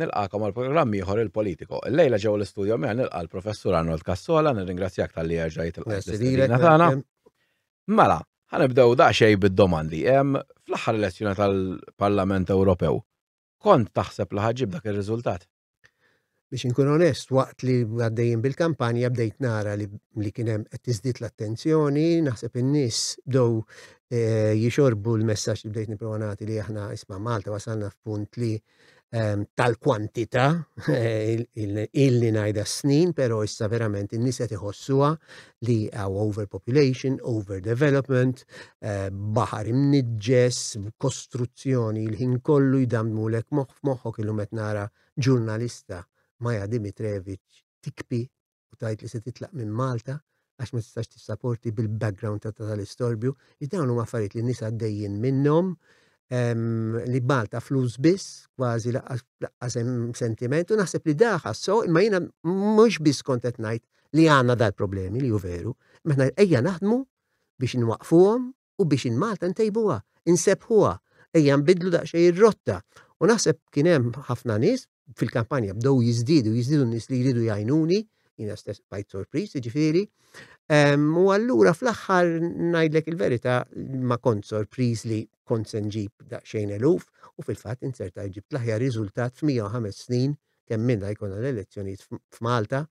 Nilqakom għal programm ieħor il-Politico. Illejla ġew l-istudio miegħi nilqa' l-Professur Arnold Cassola, nirringrazzjak tal-li erġa' jitilqa' tagħna. Mela, ħanibdew daqsxejn bid-domandi. Fl-aħħar elezzjoni tal-Parlament Ewropew, kont taħseb li ħaġġib dak ir-riżultat? Biex inkun onest, waqt li għaddejjin bil-kampanja bdejt nara li, li kien hemm qed tiżdied l-attenzjoni, naħseb in-nies bdew eh, jixorbu l-messaġġ li bdejt nipprova nagħti li aħna isma' Malta wasalna f'punt li eh, ehm, tal-kwantità illi ngħidha snin, però issa verament in-nies qed iħossuha li għaw overpopulation, overdevelopment, eh, baħar imniġġes, kostruzzjoni l-ħin kollu jdamdmulek moħħ f'moħħok illum qed nara ġurnalista Maja Dimitrevic tikpi u tgħid li se titlaq minn Malta għax ma tistax tissaporti bil-background ta' tal-istorbju, li dawn huma affarijiet li nisa għaddejjin minnhom, li Malta flus biss, kważi laqqas hemm sentiment, u naħseb li daħa so, imma jiena mhux biss kont qed ngħid li għandna dal-problemi li hu veru, meta ejja naħdmu biex nwaqfuhom u biex in Malta ntejbuha, insebbħuha, ejja nbiddlu daqsxejn ir-rotta. U naħseb kien hemm ħafna nies fil-kampanja bdew jiżdiedu, jiżdiedu n-nies li jridu jgħinuni, jiena stess bajt sorpriż, jiġifieri. Ehm, u allura fl-aħħar ngħidlek il-verità ma kont sorpriż li kont se nġib daqsxejn eluf u fil-fatt inserta ġibt l-aħjar riżultat f'105 snin kemm minna jkollna l-elezzjonijiet f'Malta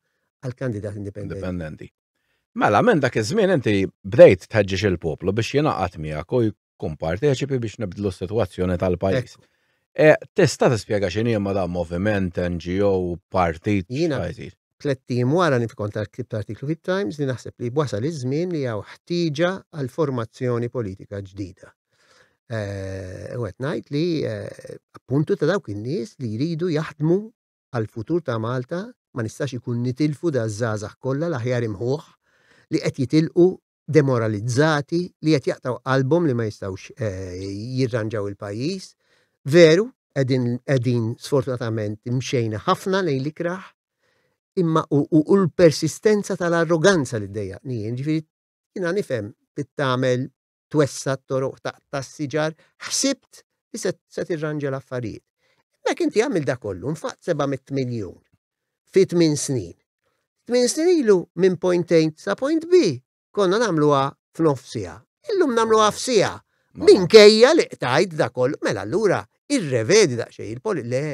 għal kandidat indipendenti. Mela, minn dak iż-żmien inti bdejt tħeġġeġ il-poplu biex jingħaqad miegħek u jkun parteċipi biex nibdlu s-sitwazzjoni tal-pajjiż. E, tista' tispjega x'inhi ma dan moviment, NGO, partit? Jiena tlettim wara li kont ktibt artiklu fit-Times li naħseb li wasal iż-żmien li hawn ħtieġa għal formazzjoni politika ġdida. Eh, u qed ngħid li eh, appuntu ta' dawk in-nies li jridu jaħdmu għall-futur ta' Malta ma nistax ikun nitilfu daż-żgħażagħ kollha l-aħjar imħuħ li qed jitilqu demoralizzati li qed jaqtgħu qalbhom li ma jistgħux jirranġaw il-pajjiż. Veru qegħdin qegħdin sfortunatament imxejna ħafna lejn l-ikrah imma u l-persistenza tal-arroganza li ddejjaqni jien, ġifieri jiena nifhem tittamel twessa' t-toroq, taqta' s-siġar, ħsibt li se, se tirranġa l-affarijiet. Hemmhekk inti għamilt dak kollu, nfaqt 700 miljun fi tmien snin. Tmien snin ilu minn point A sa point B konna nagħmluha f'nof siegħa. Illum nagħmluha f'siegħa. Minkejja li qtajt dak kollu, mela allura irrevedi daqsxejn il-poli le.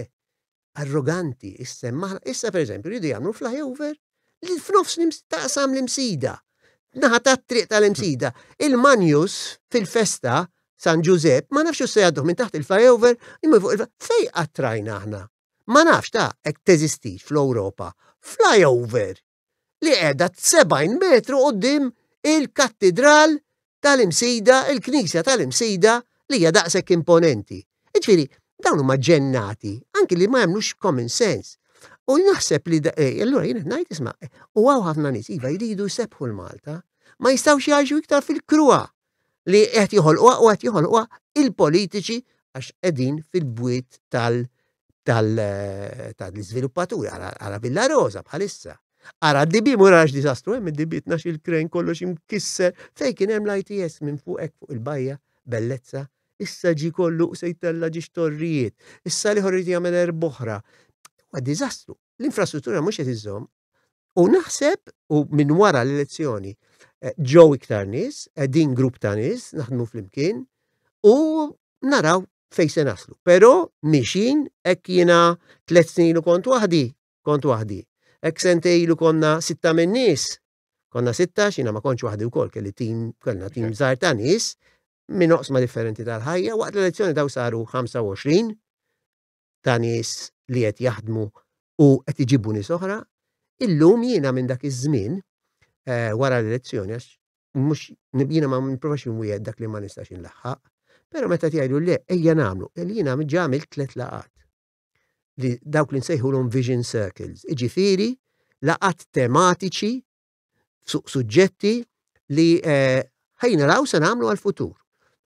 arroganti issemmaħ, issa per eżempju jridu jagħmlu flyover li f'nofs taqsam l-imsida. Naħa ta' triq tal-imsida. Il-manjus fil-festa San Ġużep ma nafx se jgħadduh minn taħt il-flyover imma fuq il fej qattrajna aħna. Ma nafx ta' hekk teżistix fl-Ewropa. Flyover. li qiegħda 70 metru qudiem il-kattidral tal-imsida, il-knisja tal-imsida li hija daqshekk imponenti. Iġifieri, dawn huma ġennati, anki li ma jemnux common sense. U naħseb li eh, allura jien ngħid isma' u għaw ħafna nies iva jridu jsebħu l-Malta, ma jistgħux jgħixu iktar fil-krua li qed joħolquha u qed joħolquha il-politiċi għax qegħdin fil-bwiet tal- tal-iżviluppaturi għara Villa Rosa bħalissa. Għara d-dibi mura għax disastru hemm id-dibi tnax il-krejn kollox imkisser fej kien hemm l-ITS minn fuq hekk fuq il-bajja bellezza issa ġi kollu se jtella ġiex torrijiet. Issa li ħorri jagħmel erboħra. Huwa diżastru. L-infrastruttura mhux qed iżomm U naħseb, u minn wara l-elezzjoni, eh, ġew iktar nies, eh, din grupp ta' nies, naħdmu flimkien, u naraw fej se naslu. Pero mixin, ek jina tlet snin u kont wahdi, kont wahdi. Ek sentej lu konna sitta minn nies, konna sitta, xina ma konċ wahdi u kol, kelli tim, kellna tim zar ta' nies, minn oqsma differenti tal-ħajja, waqt l-elezzjoni daw saru 25, ta' nies li qed jaħdmu u qed iġibu nies oħra, illum jiena minn dak iż-żmien eh, wara l-elezzjoni għax mhux jiena ma nipprovax inwiegħed dak li ma nistax inlaħħaq, però meta tgħidu le ejja nagħmlu, e jiena ġamil tliet laqat li dawk li nsejħulhom vision circles, iġifieri laqat tematiċi fuq suġġetti li eh, ħajna raw se nagħmlu għal-futur.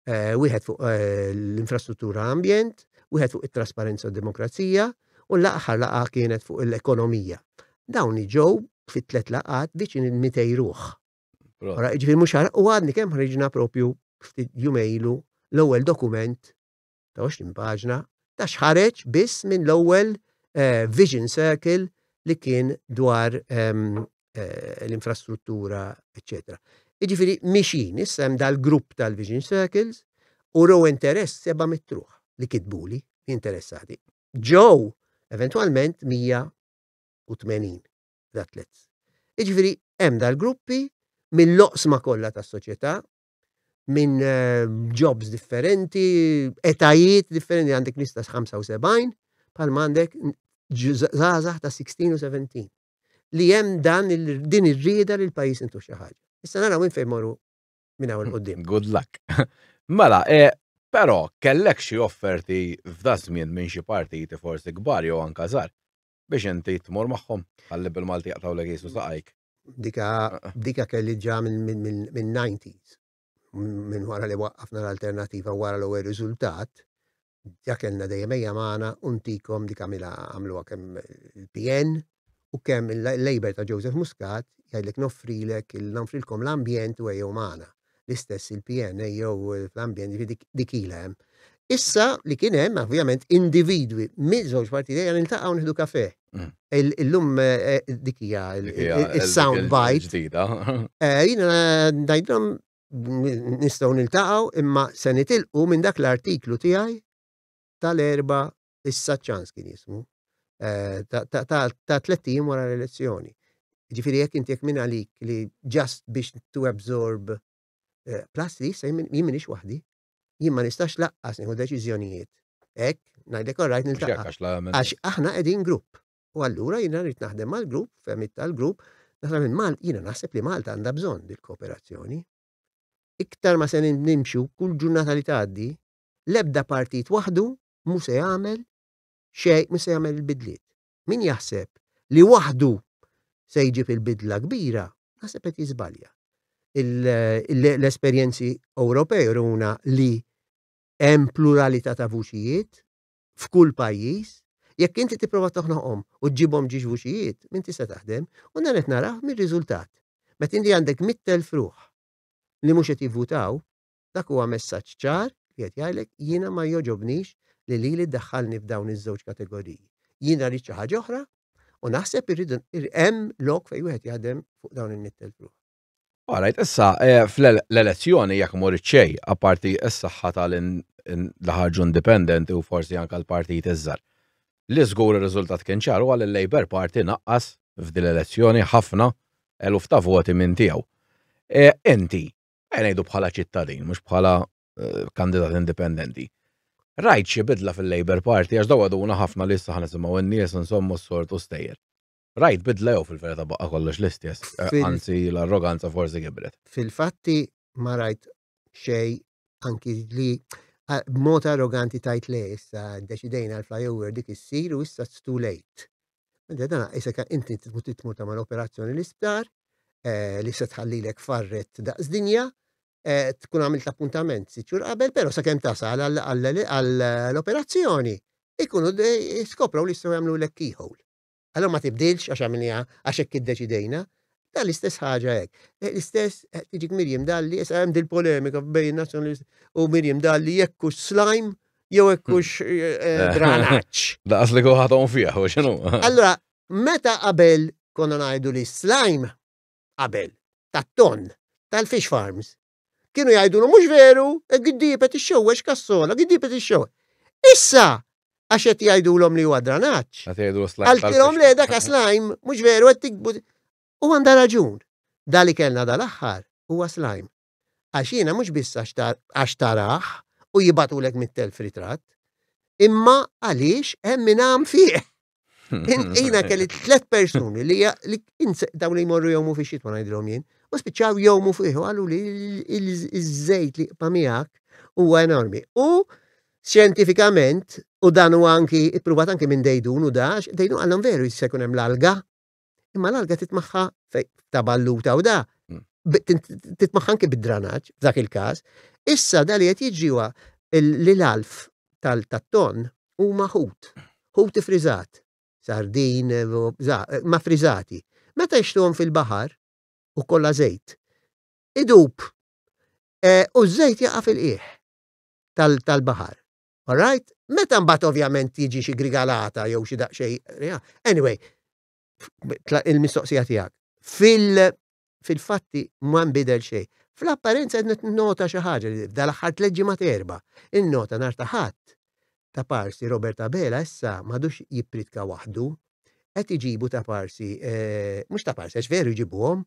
Eh, wieħed fuq eh, l-infrastruttura ambjent, wieħed fuq it-trasparenza u demokrazija, u l-aħħar laqa kienet fuq l-ekonomija. Dawn ġew fit-tlet laqat viċin il-200 ruħ. Ġifieri mhux u għadni kemm ħriġna propju ftit jumejlu l-ewwel dokument ta' 20 paġna ta' x'ħareġ biss minn l-ewwel eh, Vision Circle li kien dwar ehm, eh, l-infrastruttura, eccetera. Iġifiri, mixin, issa hemm dal-grupp tal-Vision Circles, u row interess seba mitruħ li kitbuli interessati. Ġew, eventualment, 180 l-atlets. Iġifiri, hemm dal-gruppi mill-loqsma kollha tas-soċjetà minn eh, jobs differenti, etajiet differenti, għandek nista 75, pal għandek zazah ta' 16 u 17. Li jem dan din ir-rieda li l-pajis intu xaħġa. Issa nara minn fejn moru minn għawin qoddim. Good luck. Mela, e, pero kellek xi offerti f'da żmien minn xi partiti forsi kbar jew anka żgħar biex inti tmur magħhom għalli bil-Malti jaqtaw l jisu saqajk. Dika, dika kelli ġa minn 90s. Minn wara li waqqafna l-alternativa wara l-ewwel riżultat, ġa kellna dejjem ejja magħna u ntikom dik għamilha għamluha kemm il-PN u kemm il-Labour ta' Joseph Muscat jgħidlek noffrilek noffrilkom l-ambjent u ejjew magħna. l-istess il-PNA jew fl-ambjent, jiġifieri dik dik ilha hemm. Issa li kien hemm ovvjament individwi minn żewġ partijiet għal niltaqgħu nieħdu kafe. Mm. Il- Illum eh, dik hija il- Dik hija il- il-sound il- bite. il-ġdida. Eh, Jina dajdrom nistgħu niltaqgħu imma se nitilqu minn dak l-artiklu tiegħi tal-erba issa ċans kien jismu, ta' tlet ijiem wara l-elezzjoni. Ġifiri jekk inti jekk minn għalik li ġast biex tu absorb plus li issa jien minix waħdi, jien ma nistax laqqas nieħu deċiżjonijiet. Ek, najdek all right niltaqa. Għax aħna qegħdin grupp. U allura jiena rrid naħdem mal-grupp, femmit tal-grupp, naħdem minn Malta, jiena naħseb li Malta għandha bżonn dil-kooperazzjoni. Iktar ma se nimxu kull ġurnata li tgħaddi, l-ebda partit waħdu mhu se jagħmel xejn, mhu se jagħmel il-bidliet. Min jaħseb li waħdu se jġib il-bidla kbira, naħseb qed jiżbalja. L-esperjenzi Ewropej runa li hemm pluralità ta' vuċijiet f'kull pajjiż, jekk inti tipprova toħnoqhom u ġibhom ġiex vuċijiet, minn tista' taħdem, u dan qed narah mir-riżultat. Meta inti għandek mittel fruħ li mhux qed jivvutaw, Dak huwa messaġġ ċar li qed jgħidlek jiena ma jogħġobnix li lili ddaħħalni f'dawn iż-żewġ kategoriji. Jiena rrid xi ħaġa oħra u naħseb irridu hemm lok fejn wieħed jaħdem fuq dawn in-nittel fruħ. All right, issa eh, fl-elezzjoni jekk morit xej, apparti s-saħħa tal li ħarġu indipendenti u forsi anke l-partit iżżar. Li żgur ir-riżultat kien ċar huwa li l-Labour Party naqqas f'dil elezzjoni ħafna eluf ta' voti minn tiegħu. E, inti ngħidu bħala ċittadin, mhux bħala eh, kandidat indipendenti. Rajt xi bidla fil-Labour Party għax daw għaduna ħafna li issa ħanisimgħu n-nies insommu s-sort u stejjer. Rajt bidla jew fil-verità baqqa kollox l-istess, eh, anzi l-arroganza forsi gibret. Fil-fatti ma rajt xej anki li b'mod arroganti tajt le issa deċidejna l-flyover dik issir u issa it's too late. Meta dan qisek inti trid tmur tagħmel operazzjoni l-isptar eh, li se tħallilek farret daqs dinja, eh, tkun għamilt l-appuntament sitt xhur qabel, però sakemm tasal għall-operazzjoni ikunu skoprow li jistgħu jagħmlu lek keyhole. Allora ma tibdilx għax għamilniha għax hekk iddeċidejna. Dan l-istess ħaġa hekk. Eh, l-istess eh, tiġik Mirjam Dalli, issa hemm dil-polemika bejn nazzjonalist u Mirjam Dalli jekk slime jew hekk hmm. hux eh, dranaċ. Daqas li kuħatom fih, u xinu. Allora, meta qabel konna ngħidu li slime qabel tat-ton tal-fish farms kienu jgħidu mhux veru, e giddipet ix-xewwex kassola, giddipet ix-xewwex. Issa, għax qed jgħidulhom li huwa dranaġġ. Għaltilhom le dak slime mhux veru qed tikbu. U għandha raġun. Dali kellna dal-aħħar huwa slime. Għax jiena mhux biss għax tarah u jibgħatulek mit-telf ritratt, imma għaliex hemm min għam fih. Jiena kelli tliet persuni li dawn li jmorru jgħumu fi xitwa ngħidilhom jien, u spiċċaw jgħumu fih u għallu li iż-żejt li qba' miegħek huwa enormi. U xjentifikament, u dan huwa anki ippruvat anki minn dejdun u dax, dejdun għallhom veru jista' jkun hemm l-alga Imma l-alga titmaħħa ta' balluta u da titmaħħa anki bid-dranaġġ f'dak il-każ. Issa da li qed jiġri huwa li l-alf tal-ton huma ħut, ħut ifriżat, sardin, ma friżati. Meta jixtuhom fil-baħar u kollha żejt, idub e, u ż-żejt jaqa' fil-qiegħ tal-baħar. All right? Meta mbagħad ovvjament tiġi xi grigalata jew xi daqsxejn. Anyway, il-mistoqsija tiegħek. Fil fil-fatti ma nbidel xejn. Fl-apparenza qed nota xi ħaġa li dal-aħħar tliet ġimgħat erba' innota nhar ta' ħadd ta' parsi Robert Abela issa m'għadux jippritka waħdu qed iġibu ta' parsi eh, mhux ta' parsi għax veru jġibuhom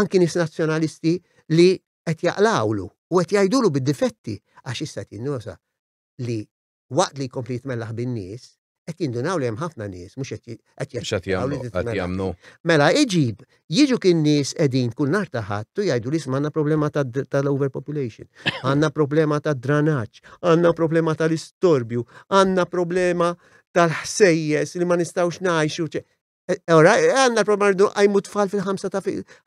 anki nis nazzjonalisti li qed jaqlgħulu u qed jgħidulu bid-difetti għax issa qed jinnosa li waqt li jkompli jitmellaħ bin-nies, qed jindunaw li hemm ħafna nies mhux qed qed Mhux qed jaċċettaw li jagħmlu, qed titmellaħ. jagħmlu. Mela iġib, jiġu kien nies qegħdin kull nhar ta' Ħadd u jgħidu li isma' għandna problema ta' d- tal-overpopulation, għandna problema tad-dranaġġ, għandna problema tal-istorbju, għandna problema tal-ħsejjes li ma nistgħux ngħixu. ċe- Eh, ora, eh, għanna l-problema rridu għajmu tfal fil-5 ta'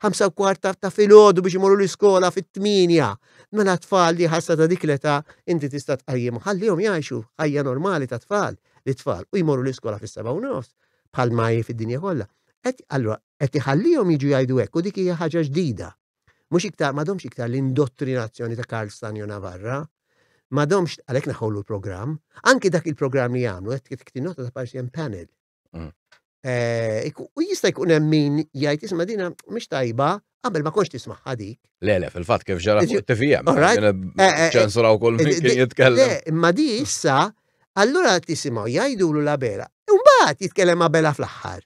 ħamsa u kwart ta' fil-ħodu biex imorru l-iskola fit-8. Mela tfal li ħassa ta' dik l-età inti tista' tqajjim ħallihom jgħixu ħajja normali ta' tfal li tfal u jmorru l-iskola fis-7 u nofs bħal ma fid-dinja kollha. Allura, qed iħallihom jiġu jgħidu hekk u dik hija ħaġa ġdida. Mhux iktar m'għadhomx iktar l-indottrinazzjoni ta' Karl Stanjo Navarra, m'għadhomx għalhekk naħolu l-programm, anki dak il-programm li jagħmlu qed tinota ta' partijan panel Mm. Eh, u jista' jkun hemm min jgħid isma' dina mhix tajba qabel ma konx tisma' ħadik. Le, le, fil-fatt kif ġara fuq TVM. Eh, eh, ċensura u kull min kien jitkellem. Le, imma di issa, allura tisimgħu jgħidulu la bela. Imbagħad jitkellem ma' bela fl-aħħar.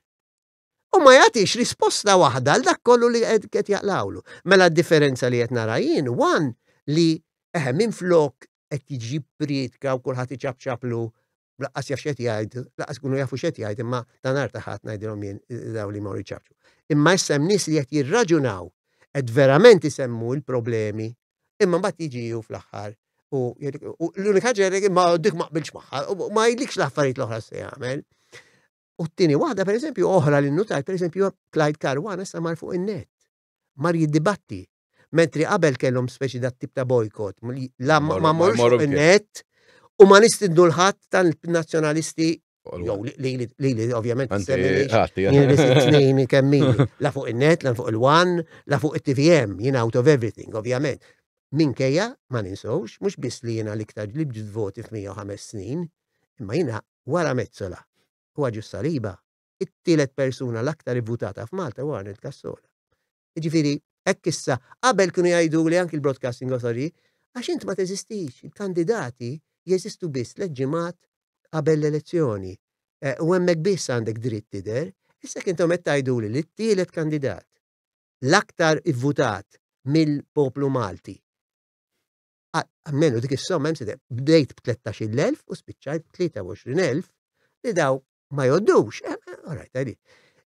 U ma jagħtix risposta waħda għal dak kollu li qed jaqlawlu. Mela d-differenza li qed nara jien, one li eħe minn flok qed jiġi prietka u kulħadd iċabċablu laqqas jaf x'qed jgħid, laqqas ikunu jafu x'qed jgħid, imma ta' nhar ta' ħadd ngħidilhom jien daw li mor iċċaċċu. Imma issa hemm nies li qed jirraġunaw, qed verament isemmu l-problemi, imma mbagħad jiġi hu fl-aħħar u l-unika ġerek imma dik ma qbilx magħha, ma jgħidlikx l-affarijiet l-oħra se jagħmel. U t-tieni waħda pereżempju oħra li nutajt pereżempju Clyde Karwana sa mar fuq in-net. mar jiddibatti. Mentri qabel kellhom speċi dat tip ta' bojkot, la ma morru net u ma nistidnu l-ħadd tal-nazzjonalisti Jow, li li ovvjament t-snin kemmi, la fuq il-net, la fuq il-wan, la fuq il-TVM, jina out of everything, ovvjament. Minkejja, ma ninsawx, mux bis li jina liktar li bġid voti f-105 snin, imma jina wara mezzola, u għagġu saliba, it-tielet persuna l-aktar ivvutata f'Malta huwa Arnett Cassola. Jiġifieri hekk issa qabel kienu jgħiduli anki l-Broadcasting Authority għax int ma teżistix, il-kandidati jeżistu biss tliet ġimgħat qabel l-elezzjoni eh, u hemmhekk biss għandek dritt tidher, issa kien qed tgħiduli li t-tielet kandidat l-aktar ivvutat mill-poplu Malti għammenu dik is-somma hemm bdejt b'13,000 u spiċċajt b'23,000 li daw ma joddux, eh, eh, all right, għadi.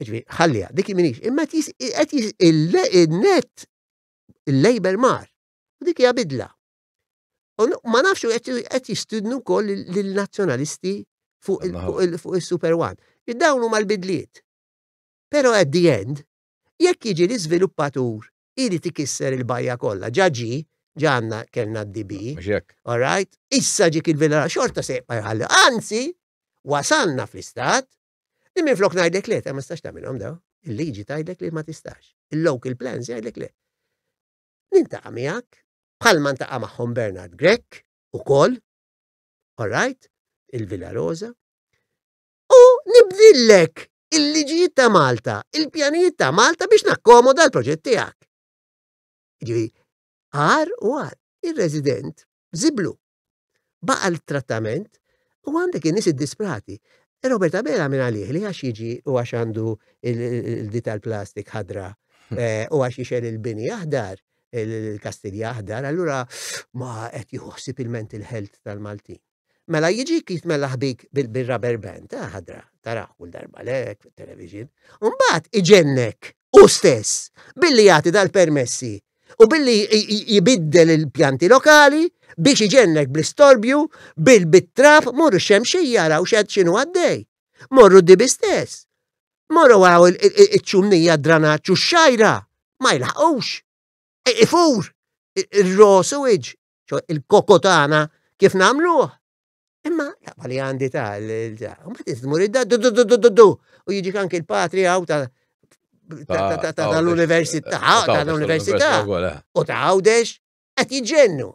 Ġvi, ħallija, dik minix, imma qed jis il-net il-label mar. U dik hija bidla. U ma nafxu qed jistudnu wkoll lill-nazzjonalisti fuq il-Super One. Id-dawn huma l-bidliet. Pero at the end, jekk jiġi l-iżviluppatur irid ikisser il-bajja kollha. Ġa ġi, ġa għandna kellna d-DB. Mhux hekk. All right? Issa ġik il-villa xorta se jibqa' jħalli. Anzi, wasalna fl-istat li minflok ngħidlek le, ta' ma tistax tagħmilhom daw. Il-liġi tgħidlek li ma tistax. Il-local plans jgħidlek le. Nintaqa' miegħek, bħalma ntaqa' magħhom Bernard Grek ukoll, all right, il-Villa Rosa, U nibdillek il-liġijiet ta' Malta, il-pjanijiet ta' Malta biex nakkomoda l-proġett tiegħek. Ġivi, għar u għar, il-resident ziblu. Baqa l-trattament u għandek in-nies id-disprati. Robert Abela minn għalih li għax jiġi u għax għandu il-di tal-plastik ħadra eh, u għax jixel il-bini aħdar, il-kastilja aħdar, allura ma qed jħossib il-mental health tal-Maltin. Mela jiġik jitmellaħ bik bil-rubber band, ta' ħadra, taraħ kull darba lek fit-television, u mbagħad iġennek u stess billi jagħti dal-permessi u billi jibiddel il-pjanti lokali biex iġennek bl-istorbju bil-bit-trab morru xemxija raw xed xinu għaddej. Morru dibi stess. Morru għaw il-ċumnija dranaċu xajra ma jlaħqux. Ifur, il-rosu iġ, ċo il-koko tagħna kif nagħmluh. Imma laqba li għandi ta' mbagħad iżdmur id du u jiġi anke il-patri għaw ta' tal-università, tal-università eh. u ta' għawdex qed jiġġennu.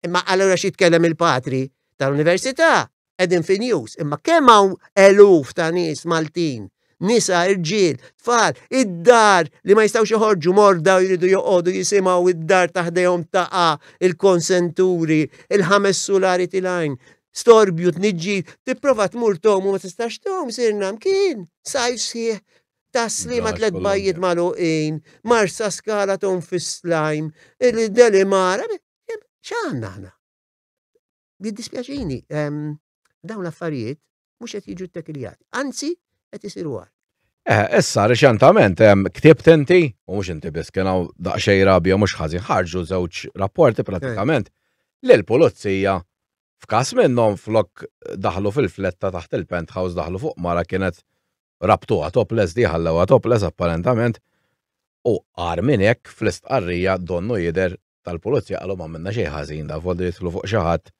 Imma allura xi tkellem il-patri tal-università qegħdin fi news, imma kemm hawn eluf ta' nies Maltin, nisa, irġiel, tfal, id-dar li ma jistgħux joħorġu morda u jridu joqogħdu jisimgħu id-dar ta' ħdejhom taqa' il-konsenturi, il-ħames sulari tilgħin, storbju, tniġġis, tipprova tmur tom u ma tistax tom, sirna mkien, sajf sħiħ tasli ma tlet bajjiet maluqin, marsa skala tom fis-slajm, il-delimara, x'għandna aħna? jiddispjaċini, ehm, dawn l-affarijiet mhux qed jiġu ttekiljati. Anzi, qed isiru għal. Eh, issa reċentament ehm, ktibt inti, u mhux inti biss kien hawn daqsxejn rabja mhux ħażin ħarġu żewġ rapporti pratikament li l-pulizija f'każ minnhom flok daħlu fil-fletta taħt il-penthouse daħlu fuq mara kienet rabtu għatoples diħallew għatoples apparentament u għar minn hekk fl-istqarrija donnu jider tal-pulizija qalu ma minna xejn ħażin da volli jidħlu fuq xi ħadd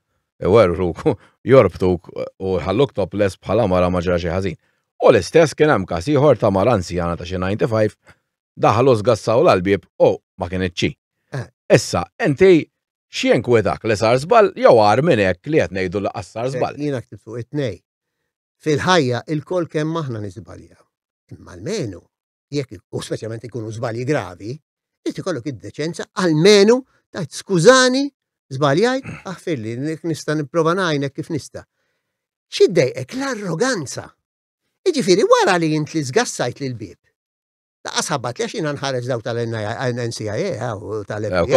iwerruk jorbtuk u ħalluk topless bħala mara ma ġara xi ħażin. U l-istess kien hemm każ ieħor ta' mara anzjana ta' xi 95 daħlu żgassaw l-albib u ma kien iċċi. Eh. Issa, inti xien kwedak li sar żball jew għar minn hekk li qed ngħidu li qassar żball. Jiena ktibt fuq it-tnej. Fil-ħajja il-kol kemm aħna niżbalja. Imma l-menu jekk u speċjalment ikunu żbalji gravi, irid ikollok id-deċenza għalmenu tajt skużani żbaljajt aħfir li nista' nipprova ngħinek kif nista'. Xiddejqek l-arroganza. Iġifieri wara li int li żgassajt lil bib. Ta' qasabat li xina nħares daw tal-NCIA u tal-FBI.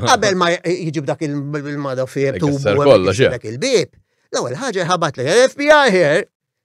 Qabel ma jġib dak il-mada fie tu dak il-bib. L-ewwel ħaġa ħabat li FBI here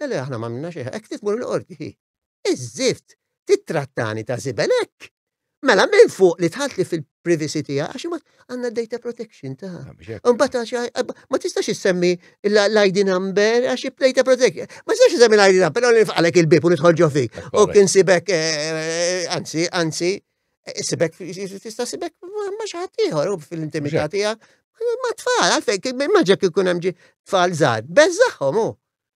Le le aħna m'għamilna xejn, hekk trid tmur il-qorti hi. Iż-żift, tittrattani ta' żibel hekk. Mela minn fuq li tħaltli fil-privacy tiegħek għax imma għandna data protection ta'. Imbagħad ma tistax issemmi l-ID number għax data protection. Ma tistax issemmi l-ID number, però nifqalek il-bib u nidħol ġo fik. U kien sibek eh, anzi, anzi, Sibek, tista' sibek ma xaħat ieħor u fil-intimità tiegħek. Ma tfal, għalfejk, maġġa kikun hemm tfal żgħar, beżaħħom hu.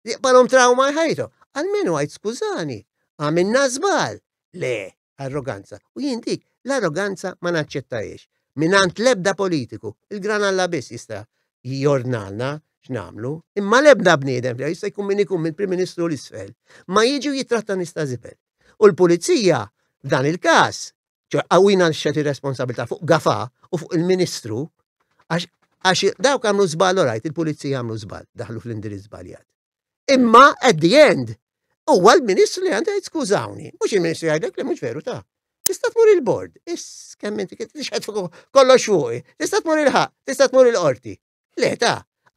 Jaqbalhom trauma ħajtu. Għal minu għajt skużani, għamilna żbal. Le, arroganza. U jien dik, l-arroganza ma naċċettajiex. Minant lebda politiku, il-gran alla biss jista' jornalna x'namlu, imma lebda bniedem, jista' jkun min ikun mill-Prim Ministru l-isfel, ma jiġu jitratta nista' zibel. U l-Pulizija, f'dan il-każ, ċe għawina xet ir-responsabilità fuq gafa u fuq il-Ministru, għax dawk għamlu zbal, orajt, il-Pulizija għamlu zbal, daħlu fl-indirizz zbaljat. Imma, at the end, huwa l-Ministru li għandu jgħid skużawni, mhux il-Ministru jgħidlek li mhux veru ta' tista' tmur il-bord, is kemm inti kollox fuqi, tista' tmur il-ħaq, tista' tmur il-qorti. Le ta,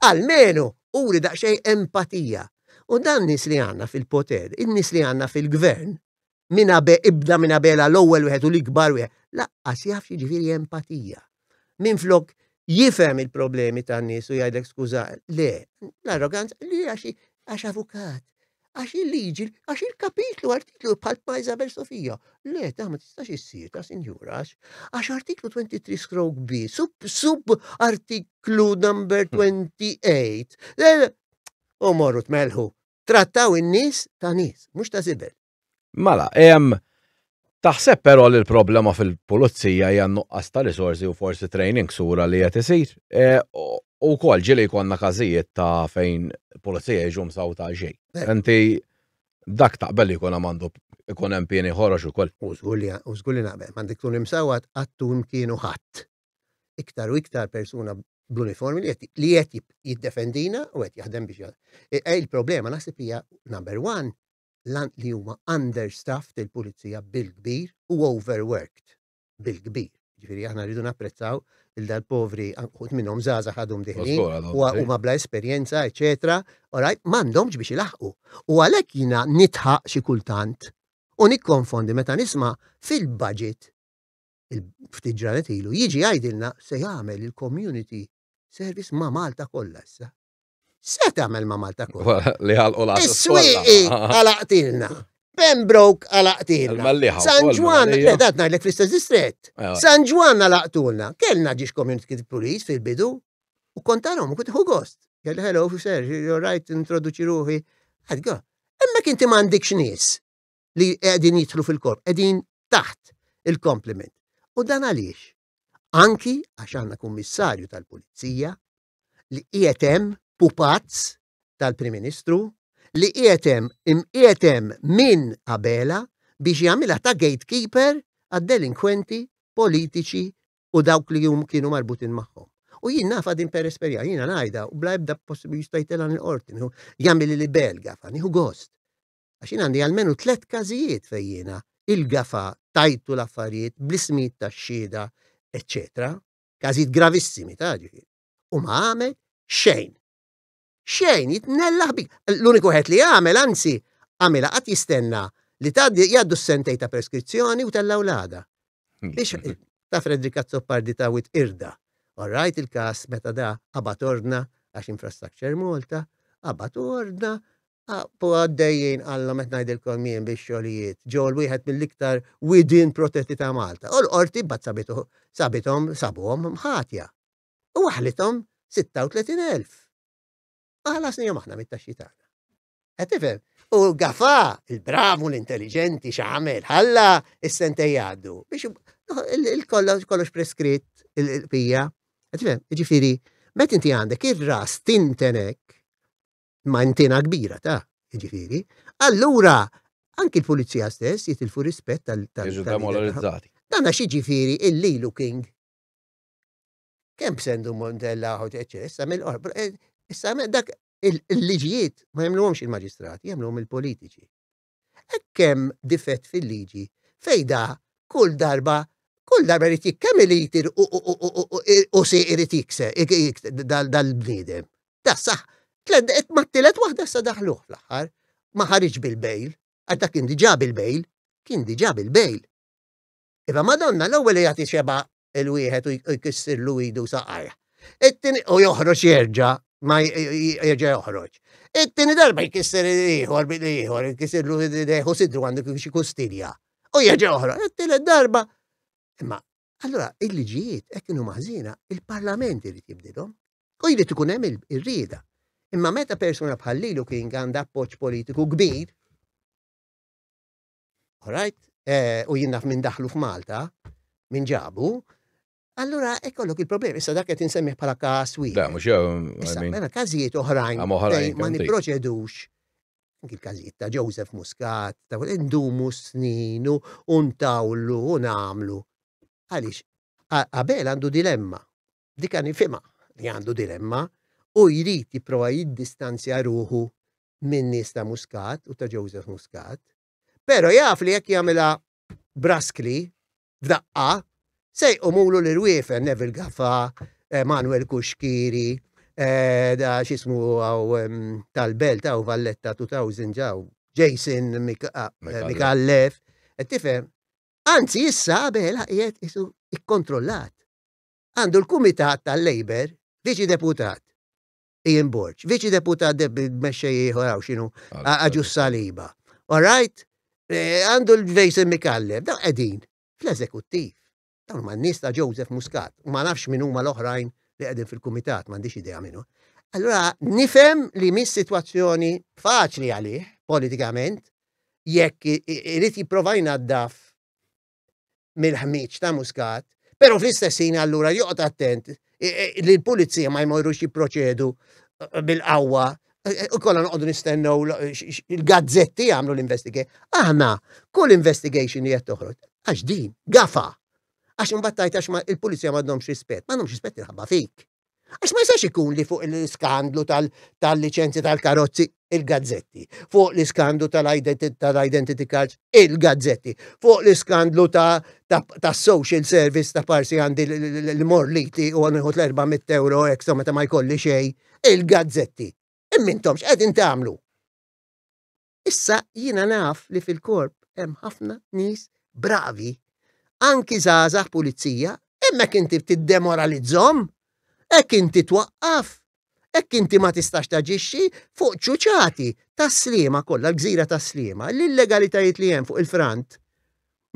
almenu uri daqsxejn empatija. U dan nies li għandna fil-poter, in-nies li għandna fil-gvern, minn ibda minn abela l-ewwel wieħed u l-ikbar wieħed, laqqas jaf jiġifieri empatija. Minn flok jifhem il-problemi tan-nies u jgħidlek skuża, le, l-arroganza li għax avukat, Għax il-liġi, għax il-kapitlu, artiklu bħal pa' Isabel Sofija. Le, ta' ma tistax issir, ta' sinjura, għax artiklu 23 stroke B, sub, sub artiklu number 28. Le, le, u morru tmelħu, trattaw in-nies ta' nies, mhux ta' zibel. Mala, ehm, Taħseb però li l-problema fil-pulizija hija nuqqas ta' risorsi u forsi training sura li qed isir? E, u wkoll ġieli jkollna każijiet ta' fejn pulizija jiġu msaw ta' xejn. Eh. Inti dak taqbel li jkun għandu ikun hemm pieni ħorox ukoll. U żgur li u żgur li naqbel, m'għandek tkun imsawwa qatt u mkienu ħadd. Iktar u iktar persuna bl-uniformi li qed jiddefendina u qed jaħdem biex e, e, il-problema naħseb hija number one li huma understaffed il-pulizija bil-kbir u overworked bil-kbir. Ġifieri aħna rridu napprezzaw il dal-povri anqut minnhom żgħażagħ għadhom diħlin u huma bla esperjenza, eċetera, orajt m'għandhomx biex ilaħqu. U għalhekk jiena nitħaq xi kultant u nikkonfondi meta nisma' fil-budget ftit ġranet ilu jiġi jgħidilna se jagħmel il-community service ma' Malta kollha issa. Se tagħmel ma' Malta kollha. Li ħalqu l Is-swieqi għalaqtilna. Pembroke għalaqtilna. San Ġwan, edat ngħidlek fl-istess distret. San Ġwan għalaqtulna. Kellna ġiex community police fil-bidu. U kontarom, u kont gost. Għal hello, sir, you're right, introduċi ruħi. Għadga, emma kinti m'għandikx nies li qegħdin jidħlu fil-korp, qegħdin taħt il-kompliment. U dan għaliex? Anki għax għandna kummissarju tal-pulizija li qiegħed hemm pupazz tal-Prim Ministru li qiegħed hemm imqiegħed hemm minn Abela biex jagħmilha ta' gatekeeper għad-delinkwenti politiċi u dawk li hum kienu marbutin magħhom. U jien nafa din per esperja, jiena ngħidha u bla ebda possibbli jista' jtelgħan il-qorti, jagħmel li bel gafa, nieħu gost. Għax jien għandi għalmenu tliet każijiet fejn jiena il-gafa tajtu l-affarijiet bl-ismijiet tax-xhieda, eċċetera. każijiet gravissimi ta' ġifieri. U ma għamel xejn. Xejn, jitnella ħbib. L-uniku ħed li għamel, anzi, għamela qatt jistenna li tgħaddi jgħaddu s-sentej ta' preskrizzjoni u tella' wlada. Biex ta' Fredrik Azzopardi ta' wit irda. Orrajt il-kas meta da qabat ordna għax infrastructure Malta, qabat ordna Aqbqu għaddejjin qalhom qed ngħidilkom jien bix-xogħlijiet ġew l-wieħed mill-iktar widien protetti ta' Malta u l-Qorti mbagħad sabitu sabithom sabuhom ħatja u waħħlithom 36,000. Ma ħallasnihom aħna mit-taxxi tagħna. Qed tifhem? U Gafa, il-bravu, l-intelliġenti, x'għamel, ħalla is-sentej jgħaddu biex il-kollox preskritt il-pija. Qed tifhem? Ġifieri, meta inti għandek ir-ras tintenek ma' intina kbira ta' ġifiri, allura anki l-pulizija stess jitilfu rispett tal demoralizzati Dan għax ġifiri illi lu king. Kem b'sendu Montella ħod eċċess, għamil qorb. Eh, issa dak il-liġijiet ma jemluhomx il-maġistrati, jemluhom il-politiċi. Hekk hemm difett fil-liġi fejn da kull darba kull darba jrid jik kemm il-iti u si irid jikse dal-bniedem. Da saħ, mat-tielet waħda sa daħluh fl-aħħar. Ma ħariġ bil-bejl, għax dak kien diġà bil-bejl, kien diġà bil-bejl. Iva Madonna l-ewwel jagħti xebgħa il-wieħed u jkissirlu idu saqajh. It-tieni u joħroġ jerġa' ma jerġa' joħroġ. It-tieni darba jkisser ieħor bil ieħor, jkissirlu deħu sidru għandu kif xi kustilja. U jerġa' joħroġ. It-tielet darba. Imma allura il-liġijiet hekk kienu maħżina, il-Parlament irid jibdilhom. U jrid ikun hemm ir-rieda. Imma meta persuna bħal Lilu kien għandha appoġġ politiku kbir, Alright? Eh, u jien naf minn daħlu f'Malta, minn ġabu, Allura, ekkollok il-problemi, issa dak qed insemmiħ bħala każ wieħed. Da, mhux jew. Mela każijiet oħrajn ma nipproċedux anki l-każijiet ta' Joseph Muscat, ta' indumu snin u ntawlu u nagħmlu. Għaliex, Abel għandu dilemma. Dik għan li għandu dilemma u jrid jipprova jiddistanzja ruħu minn nies ta' Muscat u ta' Joseph Muscat, pero jaf li jekk jagħmilha braskli f'daqqa se jqumulu l-irwiefen Neville Gaffa, eh, Manuel Kuxkiri, eh, da xismu għaw tal-belt għaw Valletta 2000 ġaw, Jason eh, Mikallef, tifem. Anzi, issa għabela qiegħed isu ikkontrollat. Għandu l-Kumitat tal-Labor viċi deputat Ian Borg. Viċi deputat mexxej ieħor hawn x'inhu Aġus Saliba. All right? Eh, għandu l-Vejsen Mikallem, daw qegħdin fl-eżekuttiv. Dawn ma n-nies ta' Joseph Muscat, u ma nafx minn huma l-oħrajn li qegħdin fil-kumitat, m'għandix idea minnu. Allura nifhem li mis sitwazzjoni faċli għalih politikament jekk irid jipprova jnaddaf mill-ħmieġ ta' Muscat, però fl-istess ħin allura joqgħod attent li l-pulizija ma jmorrux jipproċedu eh, bil-qawwa eh, u kollha noqogħdu nistennew il-gazzetti jagħmlu l-investigation. Aħna kull investigation li qed toħroġ għax din gafa. Għax imbagħad tajt għax il-pulizija m'għandhomx rispett, m'għandhomx rispett il-ħabba fik. Għax ma jistax ikun li fuq l-iskandlu tal-liċenzji tal-karozzi il-gazzetti, fuq l-iskandlu tal-identity cards il-gazzetti, fuq l-iskandlu tas-social service ta' parsi għandi l-morliti u għanħu 400 euro ekstra meta ma jkolli xej, il-gazzetti. Immintomx qegħdin tagħmlu. Issa jiena naf li fil-korp hemm ħafna nies bravi, anki żgħażagħ pulizija, hemmhekk inti tiddemoralizzhom, hekk inti twaqqaf, hekk inti ma tistax taġixxi fuq ċuċati tas-sliema kollha, l-gżira tas-sliema, l-illegalitajiet li hemm fuq il-frant.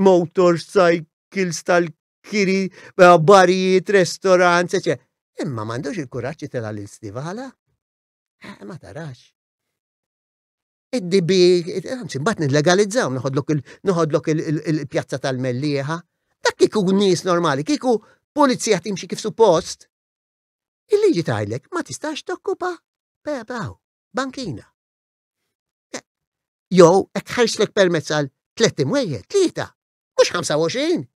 Motorcycles tal kiri, barijiet, restorants, eċe. Imma m'għandux il-kuraġġ tela' lil Stivala. Eh, ma tarax. id-dibi, anzi, mbagħad nillegalizzaw, noħodlok il-pjazza tal-mellieħa. Dak kieku nies normali, kieku pulizija timxi kif suppost, il-liġi tajlek ma tistax tokkupa bebaw, bankina. Eh, Jow, ek ħarslek permezz għal tlet imwejjed, tlieta, mux 25,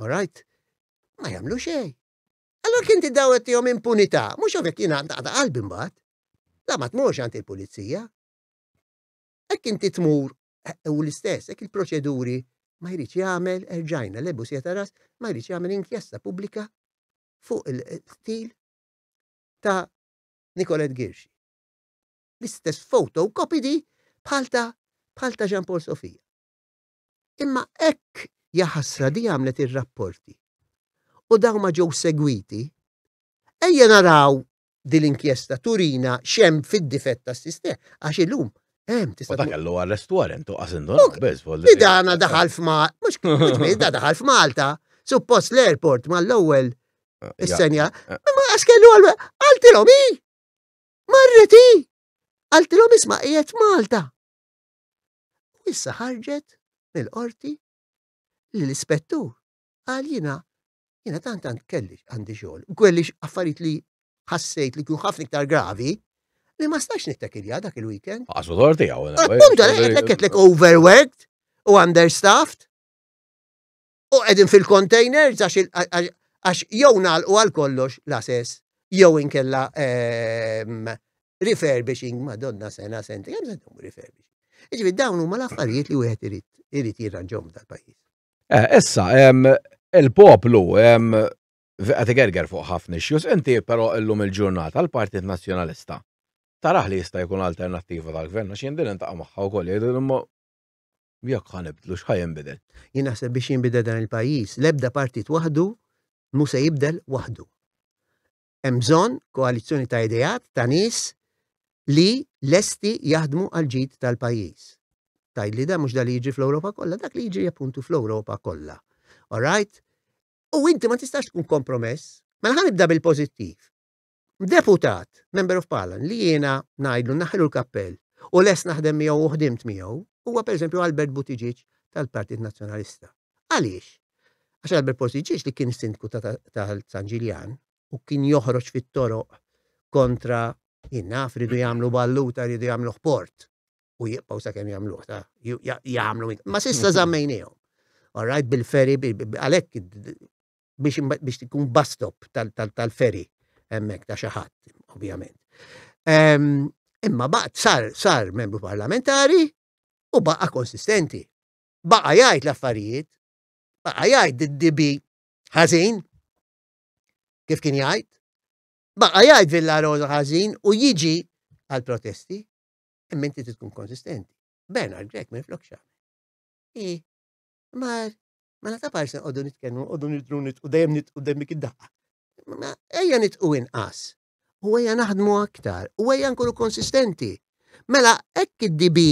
All right? Ma jagħmlu xejn. Allora kien tiddaw qed tihom impunità, mhux hawnhekk jiena naqta' qalbi mbagħad. La ma tmurx għand il-pulizija. Hekk inti tmur eh, u l-istess, hekk il-proċeduri ma jridx jagħmel erġajna lebu sieta ras ma jridx jagħmel inkjesta pubblika fuq il-stil ta' Nikolet Girxi. L-istess foto u kopidi bħal ta' bħal ta' Jean Paul Sofia. Imma hekk jaħasra di għamlet ir-rapporti u dawn ma ġew segwiti. Ejja naraw din l-inkjesta turina xem fid-difett tas-sistema għax illum Hemm tista' dak kellu arrest warrant u qasindu biss vol. Dana daħal f'Malta, mhux kien da daħal f'Malta, suppost l-airport mal-ewwel eh, is-senja. Eh, eh. Ma għax kellu għaltilhom hi. Marreti. Għaltilhom isma' qiegħed Malta. u issa ħarġet mill-qorti li l-ispettur qal jiena jiena tant tant kelli għandi xogħol, kelli affarijiet li ħassejt li kienu ħafna iktar gravi li ma stax nittakilja dak il-weekend. Għasu torti għaw. Appunta, għetlek overworked u understaffed. u qegħdin fil-containers għax jew nagħlqu għal kollox l-assess jew inkella ehm, refurbishing madonna sena senti kemm se refurbishing. Iġifieri dawn huma l-affarijiet li wieħed irid irid jirranġhom tal-pajjiż. Eh, issa, ehm, il-poplu ehm, għati gerger fuq ħafna xjus, inti però illum il-ġurnata l-Partit Nazzjonalista taraħ li jista' jkun alternattiva tal-gvern, għax jien din intaqa' magħha wkoll jgħidu Jekk ħa nibdlu x'ħa jinbidel? Jien naħseb biex jinbidel dan il-pajjiż, l-ebda partit waħdu mhu se jibdel waħdu. Hemm bżonn koalizzjoni ta' ideat ta' nies li lesti jaħdmu għal ġid tal-pajjiż. Tajd li da mhux da li jiġi fl-Ewropa kollha, dak li jiġi appuntu fl-Ewropa kollha. All right? U inti ma tistax tkun kompromess. Mela ħanibda bil-pożittiv. deputat, member of parliament, li jiena ngħidlu naħlu l-kappell u les naħdem miegħu u ħdimt miegħu, huwa pereżempju Albert Buttigieg tal-Partit Nazzjonalista. Għaliex? Għax Albert Buttigieg li kien sindku ta' San Ġiljan u kien joħroġ fit-toroq kontra jinnaf ridu jagħmlu balluta ridu jagħmlu ħport u jibqgħu sakemm jagħmluh ta' jagħmlu ma sissa żammejnihom. All right, bil-feri, għalhekk biex biex tkun bus stop tal-ferry hemmhekk ta' xi ħadd, ovvjament. Imma baqgħet sar sar membru parlamentari u baqa' konsistenti. Baqa' jgħid l-affarijiet, baqa' jgħid id-dibi ħażin, kif kien jgħid, baqa' jgħid Villa Rosa ħażin u jiġi għal protesti, imma inti tkun konsistenti. Bernard Grek minn flokxa. Ma mela ta' parsi nqogħdu nitkellmu, nqogħdu nidru nitqu dejjem nitqu dejjem dik id-daqqa. Ma ejja nitqu inqas. U ejja naħdmu aktar, u ejja nkunu konsistenti. Mela hekk id-DB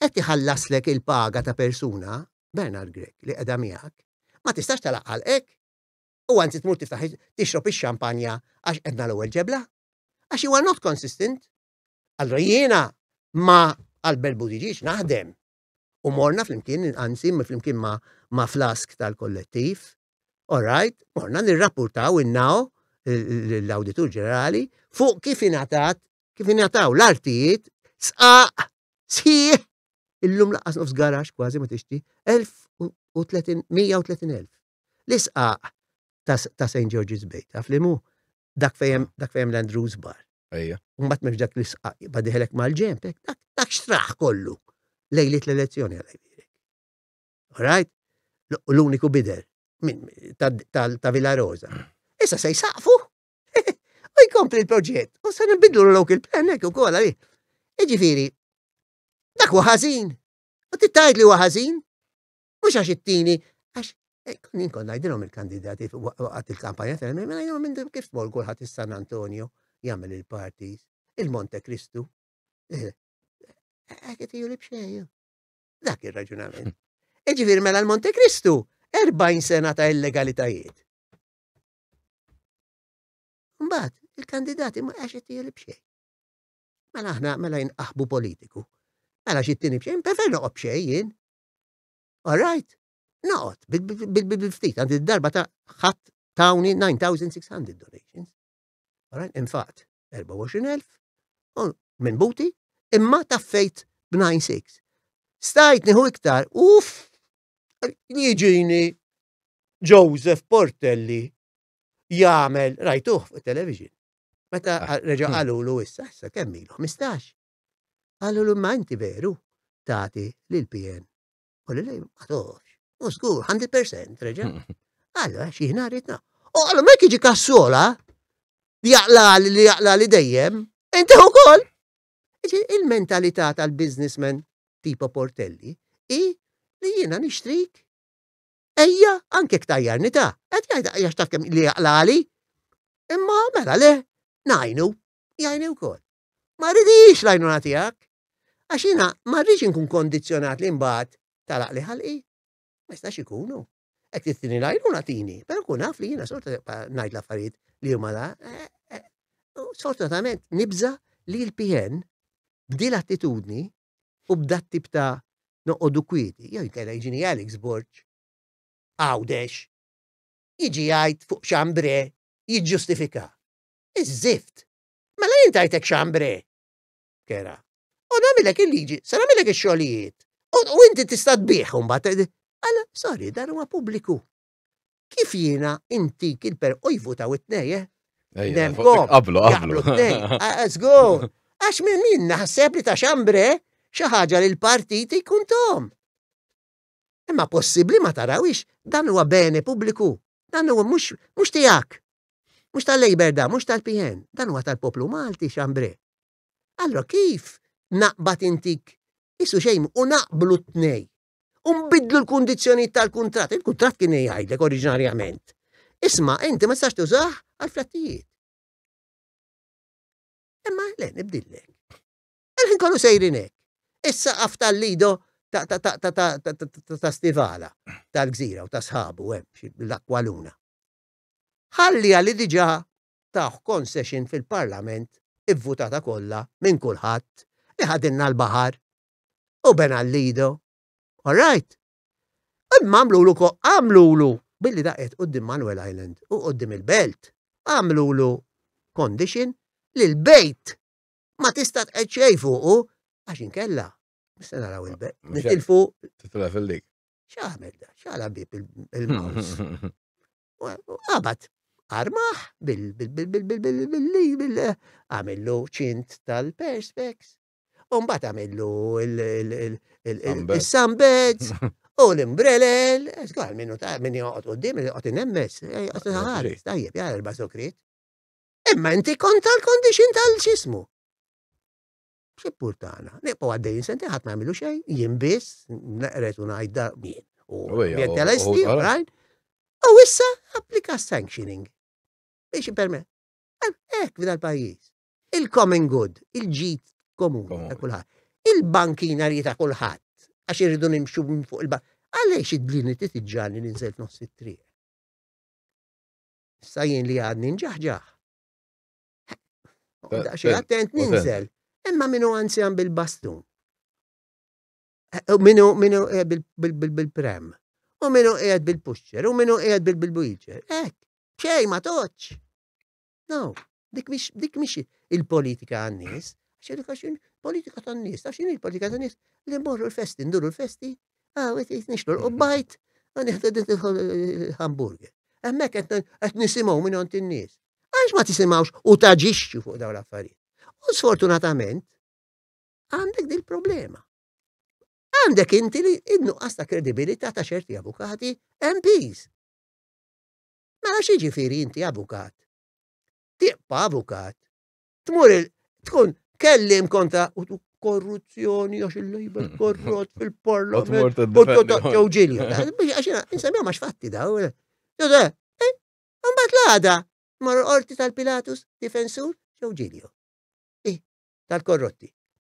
qed iħallaslek il-paga ta' persuna, Bernard Grek, li qiegħda miegħek, ma tistax talaqqal hekk. U anzi tmur tiftaħ tixrob ix-xampanja għax qedna l-ewwel ġebla. Għax huwa not consistent. Allora jiena ma Albert Budiġiġ naħdem U morna flimkien, anzi flimkien ma, ma flask tal-kollettiv. Alright, morna nirrapportaw innaw l-Awditur Ġenerali fuq kif ingħatat kif ingħataw l-artijiet sqaq sħiħ illum laqas nofs garax kważi ma tixti 130,000. L-isqaq ta' St. George's Bay, taf li mu dak fejem, dak fejem l-Andrews bar. Ejja. Umbat mex dak li sqaq, badiħelek mal-ġemp, dak, dak xtraħ kollu. Lejlit l-elezzjoni għalaj birek. Alright? L-uniku bider, ta' Villa Rosa. Issa se jisaqfu. U jkompli l-proġett. U se nbidlu l-lok il-plan, ekku kolla li. Iġifiri, dak u ħazin. U tittajt li u ħazin. Mhux għax it-tieni, għax eh, kien inkun ngħidilhom il-kandidati waqgħet il-kampanja tal mela ngħidilhom minn kif tmur kulħadd is-San Antonio jagħmel il-parties, il-Monte Kristu. Eh, eh, qed li b'xejn. Dak ir-raġunament. Iġifieri mela l-Monte Kristu 40 sena ta' illegalitajiet. Mbagħad il-kandidati ma għax qed li b'xejn. Mela aħna mela jinqaħbu politiku. Mela xi tieni b'xejn, prefer noqgħod b'xejn jien. All right, naqot, bil-ftit, għandi darba ta' ħadd tawni 9,600 donations. All right, infaqt 24,000 minn buti, imma taffejt b'96. Stajt nieħu iktar, uff, jiġini Joseph Portelli jagħmel rajtuh fuq television. Meta ah. reġa' qalulu issa, issa kemm ilu 15. Qalulu imma inti veru tagħti lil PN. U lil lejn ma toħx. U żgur 100% reġa'. Allora xi ħin għaritna. U għallu mek jiġi kassola jaqla li jaqla li dejjem, inti ukoll. Il-mentalità tal-businessman tipo Portelli i li jiena nixtrik ejja anke ktajjarni ta' qed jgħid għax taf kemm li jaqlali. Imma mela le najnu jgħinu wkoll. Ma rridhiex l-għajnuna tiegħek, għax jiena ma rridx inkun kondizzjonat li mbagħad tagħlaq li ħalqi. Ma jistax ikun hu. Hekk trid tini l-għajnuna tini, però kun naf li jiena sorta ngħid l-affarijiet li huma la. Eh, eh, Sfortunatament nibża li l-PN b'di l-attitudni u b'dat tip ta' noqogħdu kwieti, jew jkella jiġini Alex Borg, għawdex, jiġi jgħid fuq xambre jiġġustifika. Iż-żift, Mela jien tajtek xambre. Kera. U nagħmilek il-liġi, se nagħmilek ix-xogħlijiet. U inti tista' tbih mbagħad. Alla, sorry, dan huwa pubbliku. Kif jiena inti kilper u jvutaw it-tnej, eh? Qablu, qablu. Żgur. Ah, Għax minn min naħseb li ta' xambre xi ħaġa li l-partit jkun tom. Imma possibbli ma tarawhiex, dan huwa bene pubbliku, dan huwa mhux mhux tiegħek. Mhux tal-Labour da, mhux tal-PN, dan huwa tal-poplu Malti xambre. Allora kif naqbad intik isu xejn u naqblu t-tnej. U nbidlu l-kundizzjonijiet tal-kuntratt, il-kuntratt kien jgħidlek oriġinarjament. Isma' inti ma tistax tużah għal flattijiet. Imma le nibdillek. Dal-ħin kollu sejrin hekk. Is-saqaf tal-Lido ta' Stivala, tal-Gżira u ta' sħabu hemm l-Aqualuna. Ħallija li diġà tawh concession fil-Parlament ivvutata kollha minn kulħadd li ħadilna l-baħar u bena l-Lido. All right? Imma għamlulu għamlulu billi daqqiet quddiem Manuel Island u quddiem il-Belt, għamlulu condition li l-bejt ma tista' tqed xejn fuqu għax inkella se naraw il-beb. Nitilfu. Titla fil-dik. X'għamel da, x'għala bib il-maws. Qabat armaħ bil-li għamillu ċint tal-perspex. Umbat għamillu il-sambed u l-imbrelel. Għal minnu ta' minn joqot u dim, joqot nemmes. Tajjeb, jgħal il-basokrit. Imma inti kont tal-condition tal-ġismu. Xippur tagħna, neqgħu għaddejjin senti ħadd ma jagħmilu xejn, jien biss, neqret u ngħid dar min. U jien tal-esti, rajn. U issa applika sanctioning. Biex permet. Ek, f'dal pajjiż. Il-common good, il-ġid komuni ta' kulħadd. Il-bankina li ta' kulħadd. Għax irridu nimxu fuq il-bank. Għaliex id-dlini titġani li nżel nofs it-triq? Issa jien li għadni nġaħġaħ. Eh, Daqxie eh, attent ninżel. Imma minu anzjan bil-bastun. Eh, minu, minu bil-prem. U minu qiegħed bil-pusċer, u minu qiegħed bil-wheelchair. Ek, xej ma toċ. No, Dik mhix dik mhix il-politika għan-nies, għax politika tan-nies, għax x'inhi l-politika tan-nies li mmorru l-festi, nduru l-festi, ah, qed nixtru l-qubbajt, ah, nieħdu din il-hamburger. Hemmhekk qed nisimgħu minn għand in-nies. Għax ma tisimgħux u taġixxu fuq dawn l-affarijiet. U sfortunatament għandek din problema. Għandek inti li innuqqas ta' kredibilità ta' ċerti avukati MPs. Mela xi ġifieri inti avukat Tibqa' avukat. Tmur tkun kellim kontra u tu korruzzjoni għax il-lejber korrot fil-parlament. U tu taqċew ġilja. Għaxina, insemmija max fatti daw. Jodha, eh, għambat eh, l-għada. Mar orti tal-Pilatus, difensur, ġew ġilju. Eh, tal-korrotti.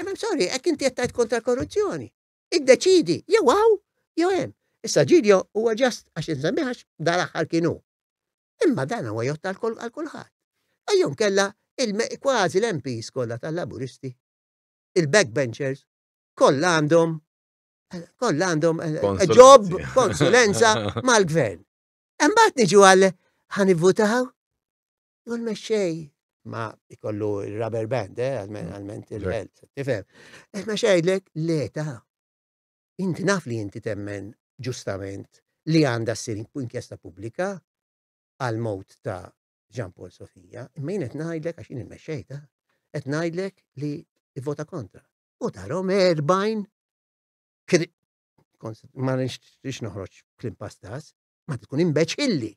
Imma sorry, hekk inti qed tgħid kontra korruzzjoni. Iddeċidi, jew hawn, jew hemm. Issa Ġiljo huwa ġast għax insemmiħ għax dal-aħħar kien hu. Imma dan huwa jgħodd għal kulħadd. Ejjew kella kważi l-MPs kollha tal-Laburisti, il-backbenchers, kollha għandhom kollha għandhom ġob, eh, konsulenza mal-gvern. Imbagħad niġu għal ħanivvutaw. Jew l-mexxej ma jkollu rubber band, eh, għalmen mm. il-belt, tifhem. Eħna xejdlek l-eta. Inti naf li inti temmen ġustament li għanda s-sir inkjesta publika għal mot ta' Jean Paul Sofia, imma jien qed ngħidlek għax jien il-mexxej ta' qed ngħidlek li vota kontra. U tarom erbajn ma nix noħroġ klim pastas, ma tkun imbeċilli.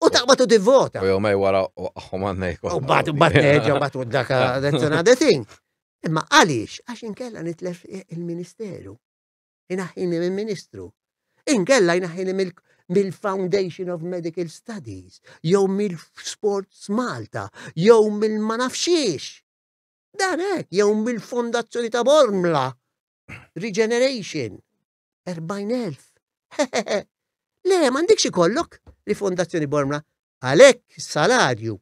U taqbad u tivvota. U jomej wara u għahom għanna jkun. U bat, u bat, u bat, u daka, that's another thing. Imma għalix, għax inkella nitlef il-ministeru. Inaħħini minn ministru. Inkella inaħħini mill-Foundation of Medical Studies, jew mill-Sports Malta, jew mill-ma nafxiex. Dan hekk, jew mill-Fondazzjoni ta' Bormla, Regeneration, 40,000. Hehehe. Le, m'għandikx ikollok, rifondazzjoni Bormla. Għalhekk salarju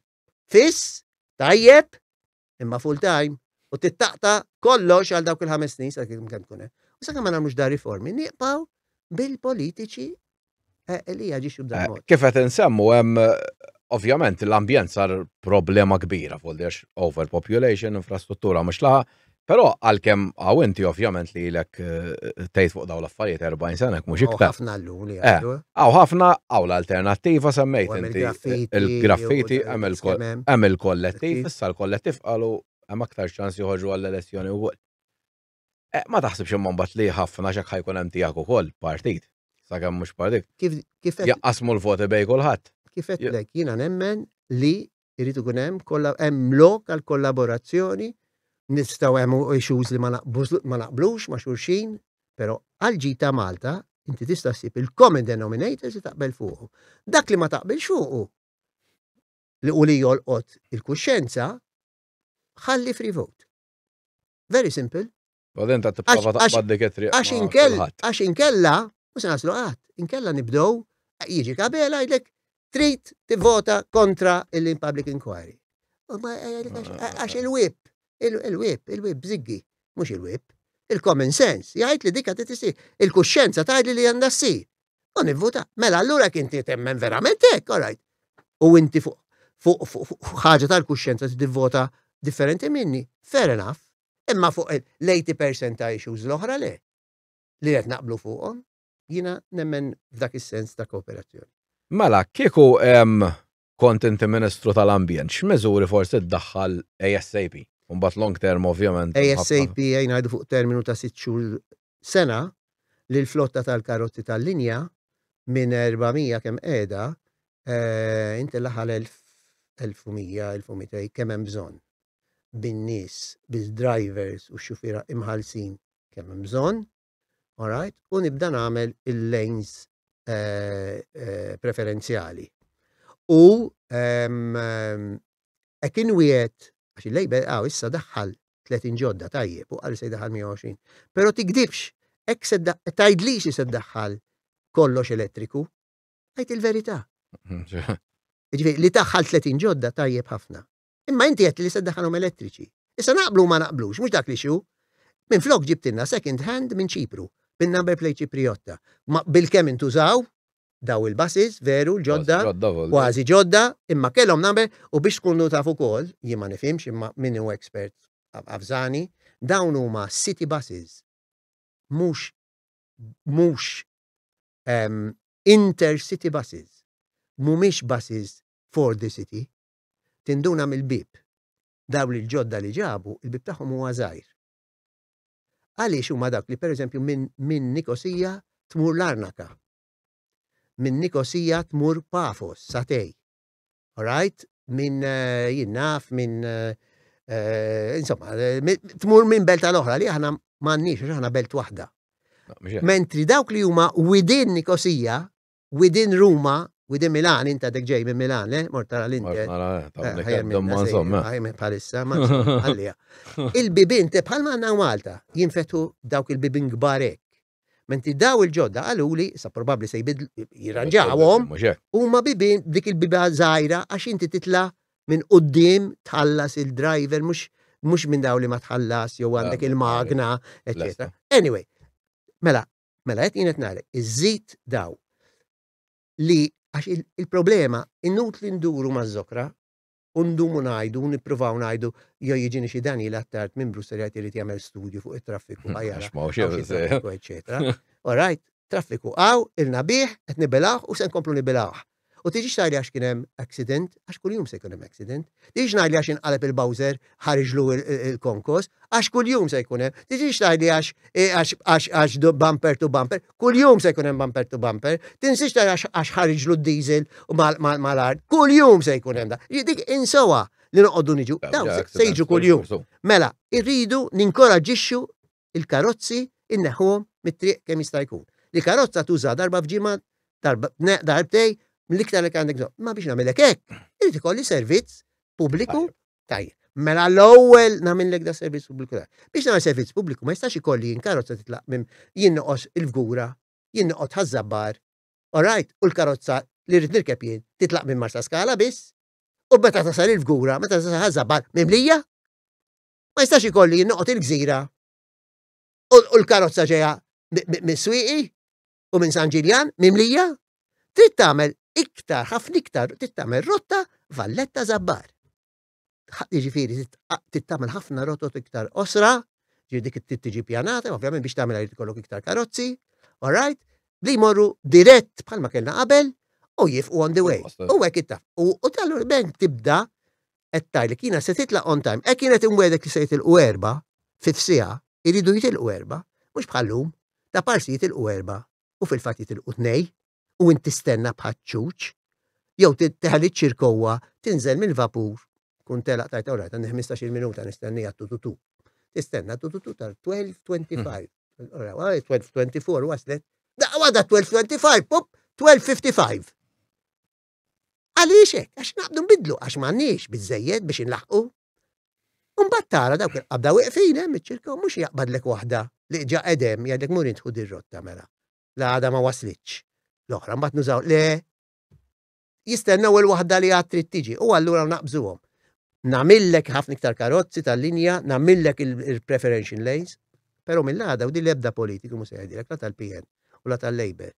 fiss tajjeb imma full time u tittaqta kollox għal dawk il-ħames snin sa kemm kemm tkun hemm. U sakemm ma nagħmlux dar riformi nieqpaw bil-politiċi Eh, Elija ġiex b'dan eh, mod. Kif qed insemmu hemm ovvjament l-ambjent sar problema kbira fuq għax overpopulation, infrastruttura mhux laħa, però għalkemm għaw inti ovvjament li lek eh, tgħid fuq dawn l-affarijiet 40 sena mhux iktar. Ħafna l-luli Għaw ħafna għaw l-alternattiva semmejt inti il-graffiti hemm il-kollettiv, issa l-kollettiv qalu hemm aktar ċans joħorġu għall-elezzjoni wkoll. Eh, ma taħsibx imma mbagħad li ħafna xek ħajkun hemm tiegħek ukoll partit. Sakemm mhux partit. Kif kif jaqqasmu l-voti bej kulħadd. Kif qedlek jiena nemmen li jrid ikun hemm kollha hemm lok għal kollaborazzjoni nistgħu hemm issues li ma naqblux ma' xulxin, però għal ġi ta' Malta inti tista' ssib il-common denominators li taqbel fuqu. Dak li ma taqbilx fuqu li u li jolqot il-kuxjenza ħalli free vote. Very simple. Baden ta' tipprova taqbad dik it-triq. Għax inkella, għax inkella, u se naslu qatt, inkella nibdew jiġi kabel għajdlek trid tivvota kontra il-public inquiry. Għax il-wip, il-wip, il-wip bżiggi, mhux il-wip. Il-common sense, jgħid li dikka tisir. Il-kuxxenza tgħidli li għandha ssir. u nivvuta. Mela allura kien temmen verament hekk, all right. U inti fuq fuq ħaġa tal-kuxjenza tivvota differenti minni, fair enough. Imma fuq l-80% ta' issues l-oħra le li qed naqblu fuqhom, jiena nemmen f'dak is-sens ta' kooperazzjoni. Mela, kieku kont inti Ministru tal-Ambjent, x'miżuri forsi ddaħħal ASAP? Mbagħad long term ovvjament. ASAP jgħin ngħidu fuq terminu ta' sitt xhur sena li l-flotta tal-karozzi tal-linja minn 400 kemm qiegħda eh, inti laħal 1100, 1200 kemm hemm bżonn bin-nies, bil-drivers u x-xufiera imħallsin kemm hemm bżonn Alright? U nibda nagħmel il-lanes preferenzjali. U hekk inwiegħed għax il-label għaw issa daħħal 30 ġodda tajjeb u għal se daħħal 120. Pero tikdibx, ek se tajdli xi se daħħal kollox elettriku, għajt il-verità. Ġifieri li taħħal 30 ġodda tajjeb ħafna. Imma inti għedtli li se ddaħħalhom elettriċi. Issa naqblu u ma naqblux, mhux dak l-issue. Minflok ġibtilna second hand minn Ċipru, bin-number plate Ċiprijotta. Ma bilkemm intużaw daw il-buses, veru, l-ġodda, kważi ġodda, imma kellhom number u biex tkunu taf ukoll, jien ma nifhimx imma min hu expert avżani, dawn huma city buses. Mhux mhux intercity buses. Mhumiex buses for the city. Tinduna mill-bieb. Dawl il-ġodda li ġabu, il-bieb tagħhom huwa żgħir. Għaliex huma dawk li pereżempju minn Nikosija tmur Larnaka. Minn Nikosija tmur Pafos, Satej. Alright? Minn eh, jinnaf, minn eh, eh, insomma, tmur minn belt għal oħra li aħna m'għandniex, aħna belt waħda. Mentri dawk li huma widin Nikosija within Ruma, within Milan, inta dek ġej minn Milan, le, mort tara l-Inter. Palissa, ma għalija. Il-bibin te bħal manna Malta jinfetu dawk il-bibin gbarek. Menti daw il-ġodda għaluli, sa probabli se jibid jirranġawhom, u ma bibin dik il-biba zaħira għax inti titla minn qoddim tħallas il-driver mux mux minn daw li ma tħallas jew għandek il-magna, etc. Anyway, mela, Mela qed jien qed ngħidlek, iżżid daw li għax il-problema inutli nduru maż-żokra u ndumu ngħidu, nippruvaw ngħidu jew jiġini xi dan jilgħat tard minn Brussel qed irid jagħmel studju fuq it-traffiku għajara. All right, traffiku għaw, il-nabiħ, qed nibilgħu u se nkomplu nibilgħu. U tiġix tgħidli għax kien hemm accident, għax kuljum se jkun hemm accident. Tiġix ngħidli għax inqaleb il-Bowser ħariġlu il-konkos, għax kuljum se jkun hemm. Tiġix tgħidli għax għax bumper to bumper, kuljum se jkun hemm bumper to bumper. Tinsiex tgħidli għax ħariġlu d-diesel mal-art, kuljum se jkun hemm da. Dik insowa li noqogħdu niġu, dawn se jiġu kuljum. Mela, irridu ninkoraġixxu il-karozzi inneħħuhom mit-triq kemm jista' jkun. Li karozza tuża darba f'ġimgħa, darbtej, mill-iktar li għandek bżonn. Ma biex nagħmilek hekk, irid ikolli servizz pubbliku tajjeb. Mela l-ewwel nagħmilek da servizz pubbliku tajjeb. Biex nagħmel servizz pubbliku ma jistax ikolli jien karozza titlaq minn jien noqos il-fgura, jien noqgħod ħażabbar, orajt, u l-karozza li rrid nirkeb jien titlaq minn Marsa Skala biss, u meta tasal il-fgura, meta tasal ħażabbar mimlija, Ma jistax ikolli jien noqgħod il-Gżira u l-karozza ġejja mis-Swieqi u minn San Ġiljan mimlija, trid tagħmel iktar, ħafna iktar, trid tagħmel rotta Valletta Zabbar. Jiġifieri trid tagħmel ħafna rotot iktar osra, ġifieri dik trid tiġi pjanata, ovvjament biex tagħmel jrid ikollok iktar karozzi, all right, li jmorru dirett bħalma kellna qabel u jifqu on the way. U hekk ittaf. U tal-urben tibda qed tgħid li kienet se titlaq on time, hekk kienet imwegħdek li se jitilqu erba' fi f'siegħa, iridu jitilqu erba', mhux bħal-lum, ta' parsi jitilqu erba' u fil-fatt jitilqu tnej u int tistenna bħaċ-ċuċ, jew teħel iċ-ċirkowwa, tinżel mill-vapur, tkun telaq tajt all right għandi ħmistax-il minuta nistenniha tututu. Tistenna tututu tar 12:25. Ora, 12:24 waslet, daqqa waħda 12:25, pop, 12:55. Għaliex hekk? Għax naqbdu nbiddlu, għax m'għandniex biżżejjed biex inlaħħqu. U mbagħad tara dawk il-qabda wieqfin hemm iċ-ċirka u mhux jaqbadlek waħda li ġa qed hemm jgħidlek mur intħu dir-rotta mela. La għadha ma waslitx. L-oħra mbagħad nużaw le jistennew il-waħda li għad trid tiġi u allura naqbżuhom. Namillek ħafna iktar karozzi tal-linja, namillek il-preferential lanes, pero mill-għada u di lebda politiku mu seħedilek la tal-PN u la tal-Labor.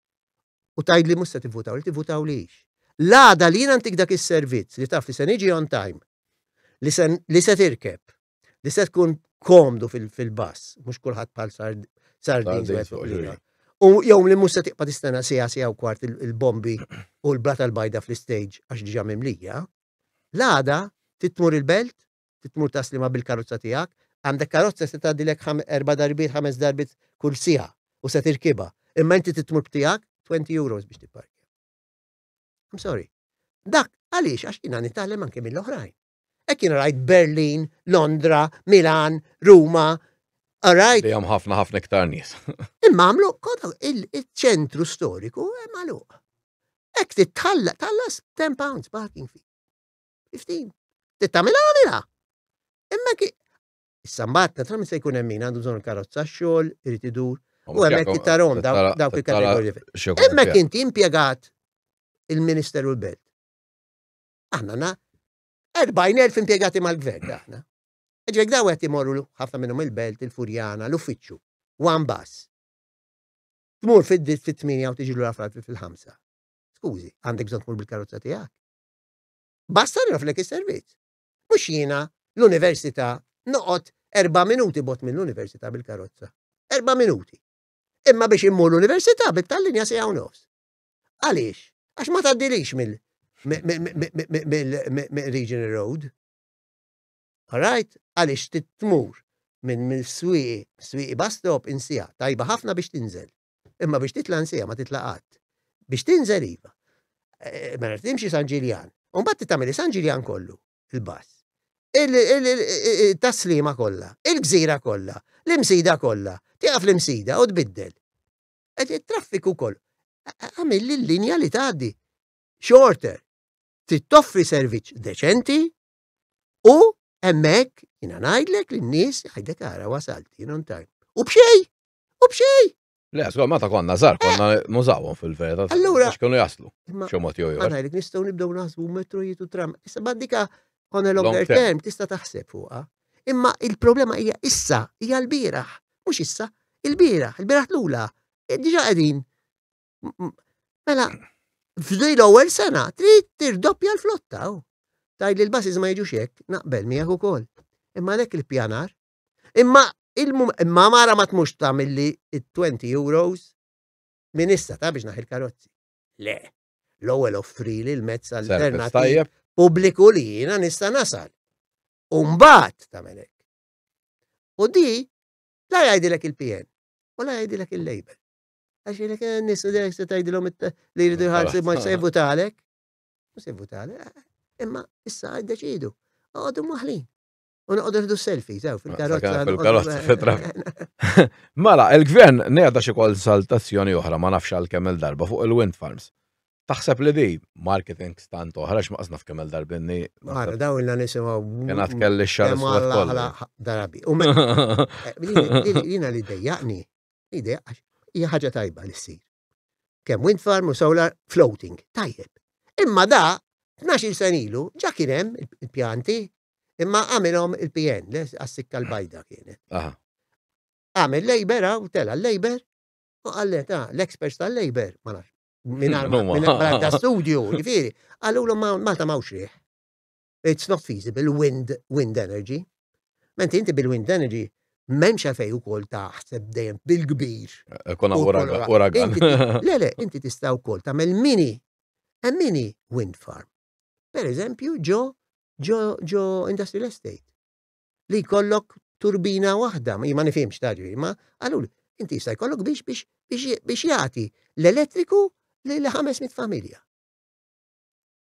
u tgħidli mhux se tivvutaw li tivvutaw lix. L-għada li jien antik dak is-servizz li taf li se niġi on time, li se, li se tirkeb, li se tkun komdu fil-bass, fil mhux kulħadd bħal sardin. U jew li mhux se tiqpa tistena sija sija u kwart il-bombi u l-brata l-bajda fl-istage għax diġa mimlija, l-għada titmur il-belt trid tmur taslimha bil-karozza tiegħek. Għandek karozza se tgħaddilek erba' darbiet, ħames darbiet kull siegħa u se tirkibha. Imma inti trid tmur b'tiegħek 20 euros biex tipparkja. I'm sorry. Dak għaliex għax jiena nitgħallem anke mill-oħrajn. Hekk jien rajt Berlin, Londra, Milan, Ruma, Alright. Li ħafna ħafna iktar nies. Imma għamlu kodu il-ċentru storiku hemm għaluq. Ek titħalla tallas 10 pounds parking fee. Fiftin. Tittamil għamilha. Imma ki. Issa mbagħad naturalment se jkun hemm min għandu bżonn karozza xogħol, irid idur. U hemmhekk ittarom dawk il-kategoriji. Hemmhekk inti impjegat il-Ministeru l-Belt. Aħna na 40,000 impjegati mal-gvern aħna. Ġek daw għet imorru ħafna minnum il-belt, il-furjana, l-uffiċċju, one bus. Tmur fid-dit fit-8 u tiġi l-ura fil-5. Skużi, għandek bżon tmur bil-karozza tijak. Basta nagħrflek is-servizz. Mhux jiena, l-università, noqgħod erba' minuti bogħod mill-università bil-karozza. Erba' minuti. Imma biex immur l-università bit-tal-linja siegħa u nofs. Għaliex? Għax ma tgħaddilix mill-regional road. Alright? Għaliex titmur minn mill-swieqi, swieqi bus stop insija, tajba ħafna biex tinżel. Imma biex titla' nsejja ma titla' qatt. Biex tinżel iva. Eh, mela timxi San Ġiljan. U mbagħad titagħmel San Ġiljan kollu, il-bass. Il-taslima kollha, il-gżira kollha, l-imsida kollha, tieqaf l-imsida u tbiddel. Qed it-traffiku kollu. Għamil li l-linja li tgħaddi shorter. Trid toffri servizz deċenti u hemmhekk jiena ngħidlek lin-nies għajdek ara wasalt, jien on time. U b'xejn! U b'xej! Le, skol, meta konna zar, konna eh! nużawhom fil-verita. Allura. X'kienu jaslu. X'mod jew jew. Għanajlek nistgħu nibdew naħsbu metro jitu tram. Issa baddika on a longer term tista' taħseb fuqha. Imma il-problema hija issa, hija l-bieraħ. Mhux issa, il-bieraħ, il-bieraħ lula. E, diġa qegħdin. Mela, f'dej l-ewwel sena trid tirdoppja l-flotta. Oh. Tajli l-basis ma jiġux hekk, naqbel miegħek ukoll. Imma lek il-pjanar Imma imma mara ma tmux tagħmilli it-20 euros minn issa ta' biex naħil karozzi. Le, l-ewwel offrili l-mezz alternattiv pubbliku li jiena nista' nasal. U mbagħad tagħmel hekk. U di la jgħidilek il-PN u la jgħidilek il-label. Għax jgħidilek eh, nis se tgħidilhom li jridu jħallsu ma se jvutalek. Ma se jvutalek. Eh, imma issa għaddeċidu. Għadu maħlin. U noqogħdu nħdu selfies, ew, fil-karozza. Fil-karozza, fil-trak. Mela, il-gvern nejda xi konsultazzjoni oħra ma nafx għal kemm il-darba fuq il-wind farms. Taħseb li di marketing stant oħra x'maqsna f'kemm il-darbinni. Mara, daw il-na nisimaw. Kena tkelli xar. Darabi. U mela, eh, jina li dejjaqni, ide, hija ħaġa tajba li ssir. Kemm wind farm u solar floating. Tajjeb. Imma da 12 sen ilu ġa kien hemm il-pjanti imma għamilhom il-PN, għas-sikka l-bajda kienet. Għamil Labour u tela l-Labour u għallet ah, l-experts tal-Labour, ma nafx, minn għadda studju, ġifiri, għallu l-om Malta mawx rieħ. it's not feasible, wind, wind energy. Menti inti bil-wind energy, memx għafej u kol taħseb dejjem bil-kbir. Eh, Kuna uragan. Le, le, inti tistaw kol tamel mini, a mini wind farm. Per eżempju, ġo, ġo, ġo industrial estate. Li kollok turbina wahda, ma jimani fimx taġri, ma għalul, inti jistaj kollok biex biex biex jati l-elettriku li l-500 familja.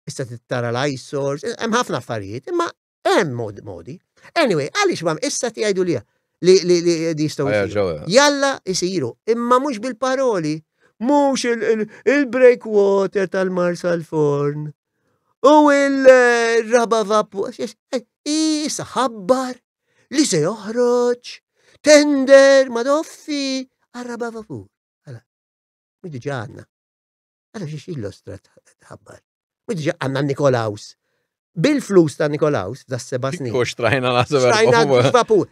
issa tittara l-eyesores, hemm ħafna affarijiet, imma hemm modi modi. Anyway, għaliex mam issa tgħidu li li li li jistgħu jsiru. Jalla jsiru, imma mhux bil-paroli, mhux il-breakwater tal-marsa l-forn. U il-raba vapu, issa ħabbar li se joħroġ, tender, madoffi, għal-raba vapur. Għala, diġa għanna. Għara xiex illostra tħabbar. U diġa għanna Nikolaus. Bil-flus ta' Nikolaus, da' seba snin. U xtrajna la' Xtrajna vapur.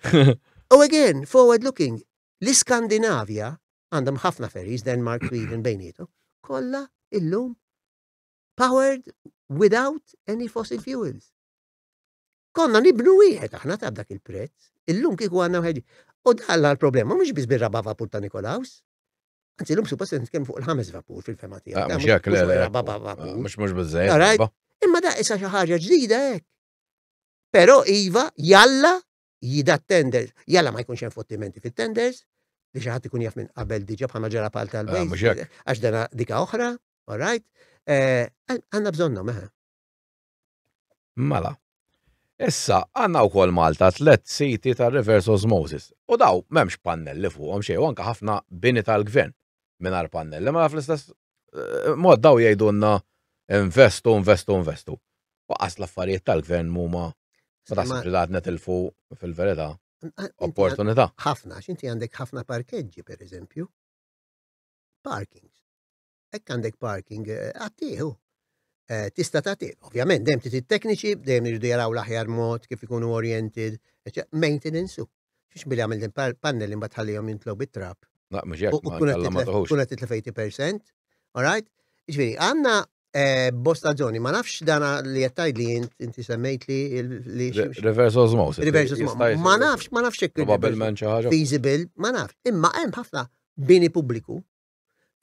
U again, forward looking, l-Skandinavja għandhom ħafna ferries, Denmark, Sweden, bejnietu, kolla illum powered without any fossil fuels. Konna nibnu wieħed aħna ta' dak il-prezz, illum kieku għandna wieħed. U dalla l-problema mhux biss bir-raba' vapur ta' Nikolaus. Anzi, l-lum suppost nitkellmu fuq il-ħames vapur fil-fema tiegħek. Ah, mhux jekk le. Raba' vapur. Ah, mhux mhux biżejjed. Imma da issa xi ħaġa ġdida hekk. Però iva jalla jida tenders, jalla ma jkunx hemm fottimenti fit-tenders, li xi ħadd ikun jaf minn qabel diġà bħalma ġara pal tal-bejn. Ah, għax dana dika oħra, all right? Eh, għandna bżonnhom, eħe. Eh. Mela. Issa, għanna u kol Malta tlet siti ta' reverse osmosis. U daw, memx pannelli fuqom xej, u anka ħafna bini tal-gvern minar pannelli. Mela fl-istess eh, mod daw jgħidunna investu, investu, investu. U għas l-affarijiet tal-gvern muma ma taħsibx li għadna tilfu fil-verità opportunità. Ħafna, xinti għandek ħafna parkeġġi, per eżempju, parkings. Hekk għandek parking, għattih hu. Eh, tista tagħtih. Ovvjament, dejjem trid tekniċi, dejjem irridu jaraw l-aħjar mod kif ikunu oriented, maintenance u. Xiex billi għamil din pannelli mbagħad ħallihom jintlow bit-trab. Naq mhux hekk ma tagħmilhux. Tkun qed titlef 80%, all right? Ġifieri, għandna eh, bosta zoni, ma nafx dana li jettaj li inti semmejt li li. Reverse osmosis. Reverse osmosis. Ma nafx, ma nafx hekk. Probabilment xi ħaġa. Feasible, ma nafx. Imma hemm ħafna bini pubbliku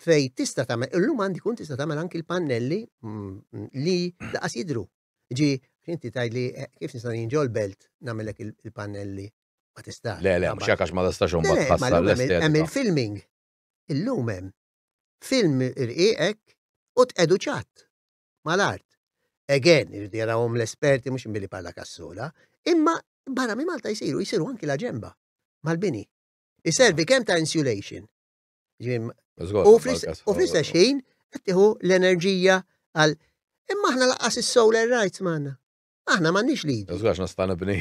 fej tista' tagħmel, illum għandi kun tista' tagħmel anki l-pannelli mm, mm, li daqas jidru. Ġi, inti tajd li eh, kif nista' jinġol belt nagħmellek il- il-pannelli ma tistax. Le, le, mhux hekk għax ma tistax Le, imbagħad le, ma tħassar llum hemm il- hemm l-estetika. il-filming. Illum hemm film irqiqek u tqedu ċatt mal-art. Again, irridu jarawhom l-esperti mhux billi parla kassola, imma barra minn Malta jsiru, jsiru anki l-aġemba mal-bini. Iservi kemm ta' insulation, U fl-istess ħin qed tieħu l-enerġija għal imma aħna laqas is-solar rights m'għandna. Aħna m'għandniex li. Żgħax nista' nibni.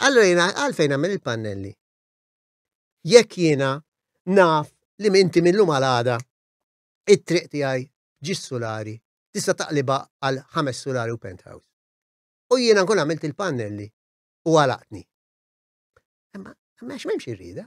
Allura jiena għalfejn nagħmel il-pannelli. Jekk jiena naf li minti minnhom għal għada it-triq tiegħi ġis sulari tista' taqliba għal ħames sulari u penthouse. U jiena nkun għamilt il-pannelli u għalaqtni. Imma għax m'hemmx irrida.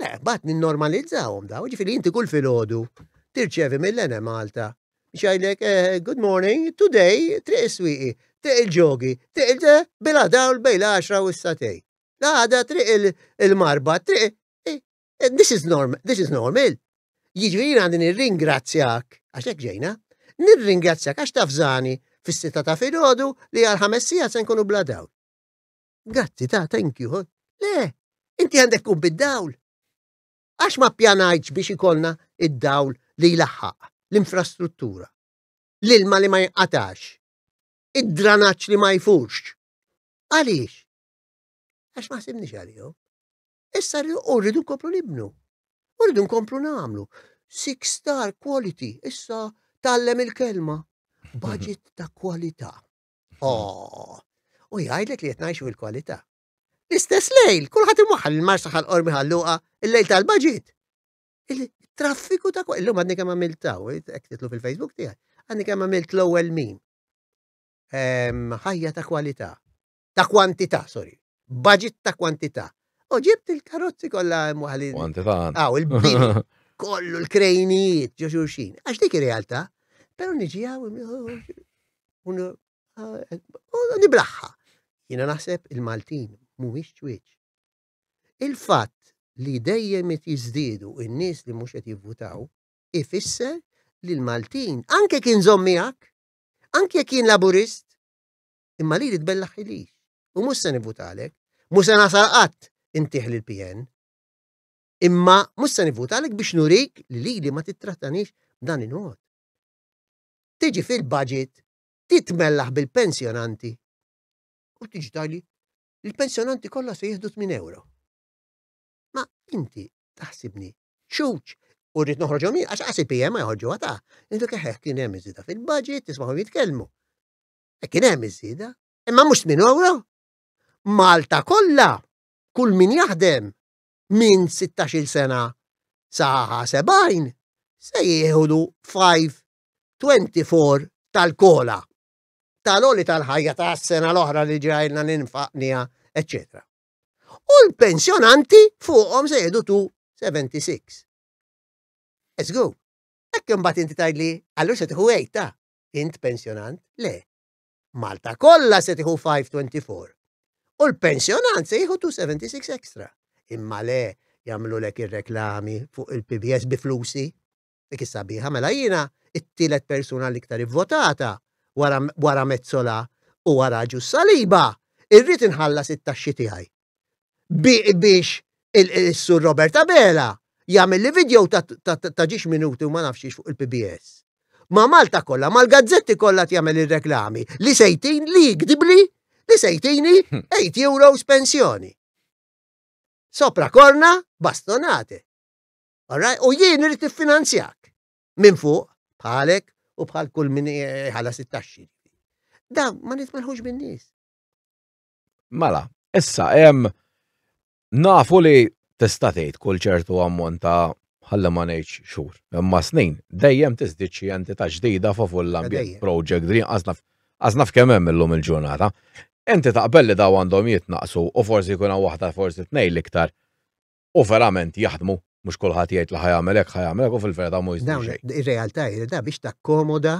Le, bat ninnormalizzawhom daw, ġifieri inti kull filgħodu tirċevi mill-Ene Malta xajlek eh, good morning, today triq is-swieqi, triq il-ġogi, triq il-de bila dawl bejn l-10 u s-satej. L-għada triq il-marba, triq eh, eh, this is normal, this is normal. Jiġifieri għandi nirringrazzjak għax hekk ġejna, nirringrazzjak għax tafżani fis-sita ta' filgħodu li għal ħames sigħat se nkunu bla dawl. Grazzi, ta, thank you. Huh? Le, inti għandek kun bid-dawl. Għax ma pjanajċ biex ikolna id-dawl li jlaħħaq, l-infrastruttura, l-ilma li ma jinqatax, id-dranaċ li ma jfurx. Għaliex? Għax ma simni għalihom. Issa rridu nkomplu nibnu. Rridu nkomplu namlu. Six star quality, issa tallem il-kelma. Budget ta' kwalità. Oh, u jgħidlek li qed ngħixu l-kwalità. L-istess lejl, kulħadd imwaħħal il-marsa ħal qormi ħalluqa, il-lejl tal-baġit. Il-traffiku ta' kwa, illum għadni kemm għamilt taw, hekk titlu fil-Facebook tiegħi, għadni kemm għamilt l-ewwel min. Ħajja ta' kwalità, ta' kwantità, sorry, Budget ta' kwantità. U ġibt il-karozzi kollha hemm waħli. Kwantità. Aw, il-bini. Kollu l-krejnijiet ġo xulxin. Għax dik ir-realtà. Però niġi għaw u niblaħħa. Jiena naħseb il-Maltin mhumiex ċwieċ. Il-fatt li dejjem qed jiżdiedu n-nies li mhux qed jivvutaw ifisser li l-Maltin anke kien żomm miegħek, anke jekk kien laburist, imma li li tbellaħ ħilix. U mhux se nivvutalek, mhux se nasal qatt intih lil PN. Imma mhux se nivvutalek biex nurik li li li ma tittratanix dan il-mod. Tiġi fil-budget titmellaħ bil-pensjonanti u tiġi tajli il-pensjonanti kollha se jieħdu 8 euro. Ma inti taħsibni ċuċ u rrit noħroġhom jien għax għasib jem ma jħorġu għata. Intu keħeħ kien hemm iżida fil-budget, tismahom jitkellmu. E kien hemm iż-żieda. Imma mhux minn ewro. Malta kollha, kull min jaħdem minn 16 sena sa 70 se jieħdu 524 tal-kola tal-oli tal-ħajja ta' sena l-oħra li ġrajna ninfaqnija, etc. U l-pensjonanti fuqhom se jieħdu 276. Eżgu, hekk imbagħad inti tgħidli, allura se tieħu ta' Int pensjonant? Le. Malta kollha se tieħu 524. U l-pensjonant se jieħu 276 extra. Imma le jagħmlu lek ir-reklami fuq il-PBS bi flusi. Dik is-sabiħa mela jiena it-tielet persuna l-iktar ivvotata wara Mezzola u wara Ġus Saliba irrid inħallas it-taxxi tiegħi. biex il-Sur Robert Abela jagħmel li video ta' ġiex minuti u ma nafx fuq il-PBS. Ma' Malta kollha, mal-gazzetti kollha jagħmel ir-reklami li sejtin li jikdibli li sejtini 8 euros pensjoni. Sopra korna bastonate. Alright? U jien irrid tiffinanzjak minn fuq bħalek u bħal kull min ħala sittaxxi. Da ma nitmelħux bin-nies. Mela, issa hemm nafu li tista' tgħid kull ċertu ammont ta' ħalli ma ngħidx xhur. Imma snin dejjem tiżdied xi entità ġdida favur l-ambjent project green għażna f'kemm hemm illum il-ġurnata. Inti taqbel li daw għandhom jitnaqqsu u forsi jkun hawn waħda forsi tnejn l-iktar u verament jaħdmu mhux kulħadd jgħid li ħa jagħmel hekk ħa jagħmel hekk u fil-verità mhu jiżdied xejn. Ir-realtà hi li da biex takkomoda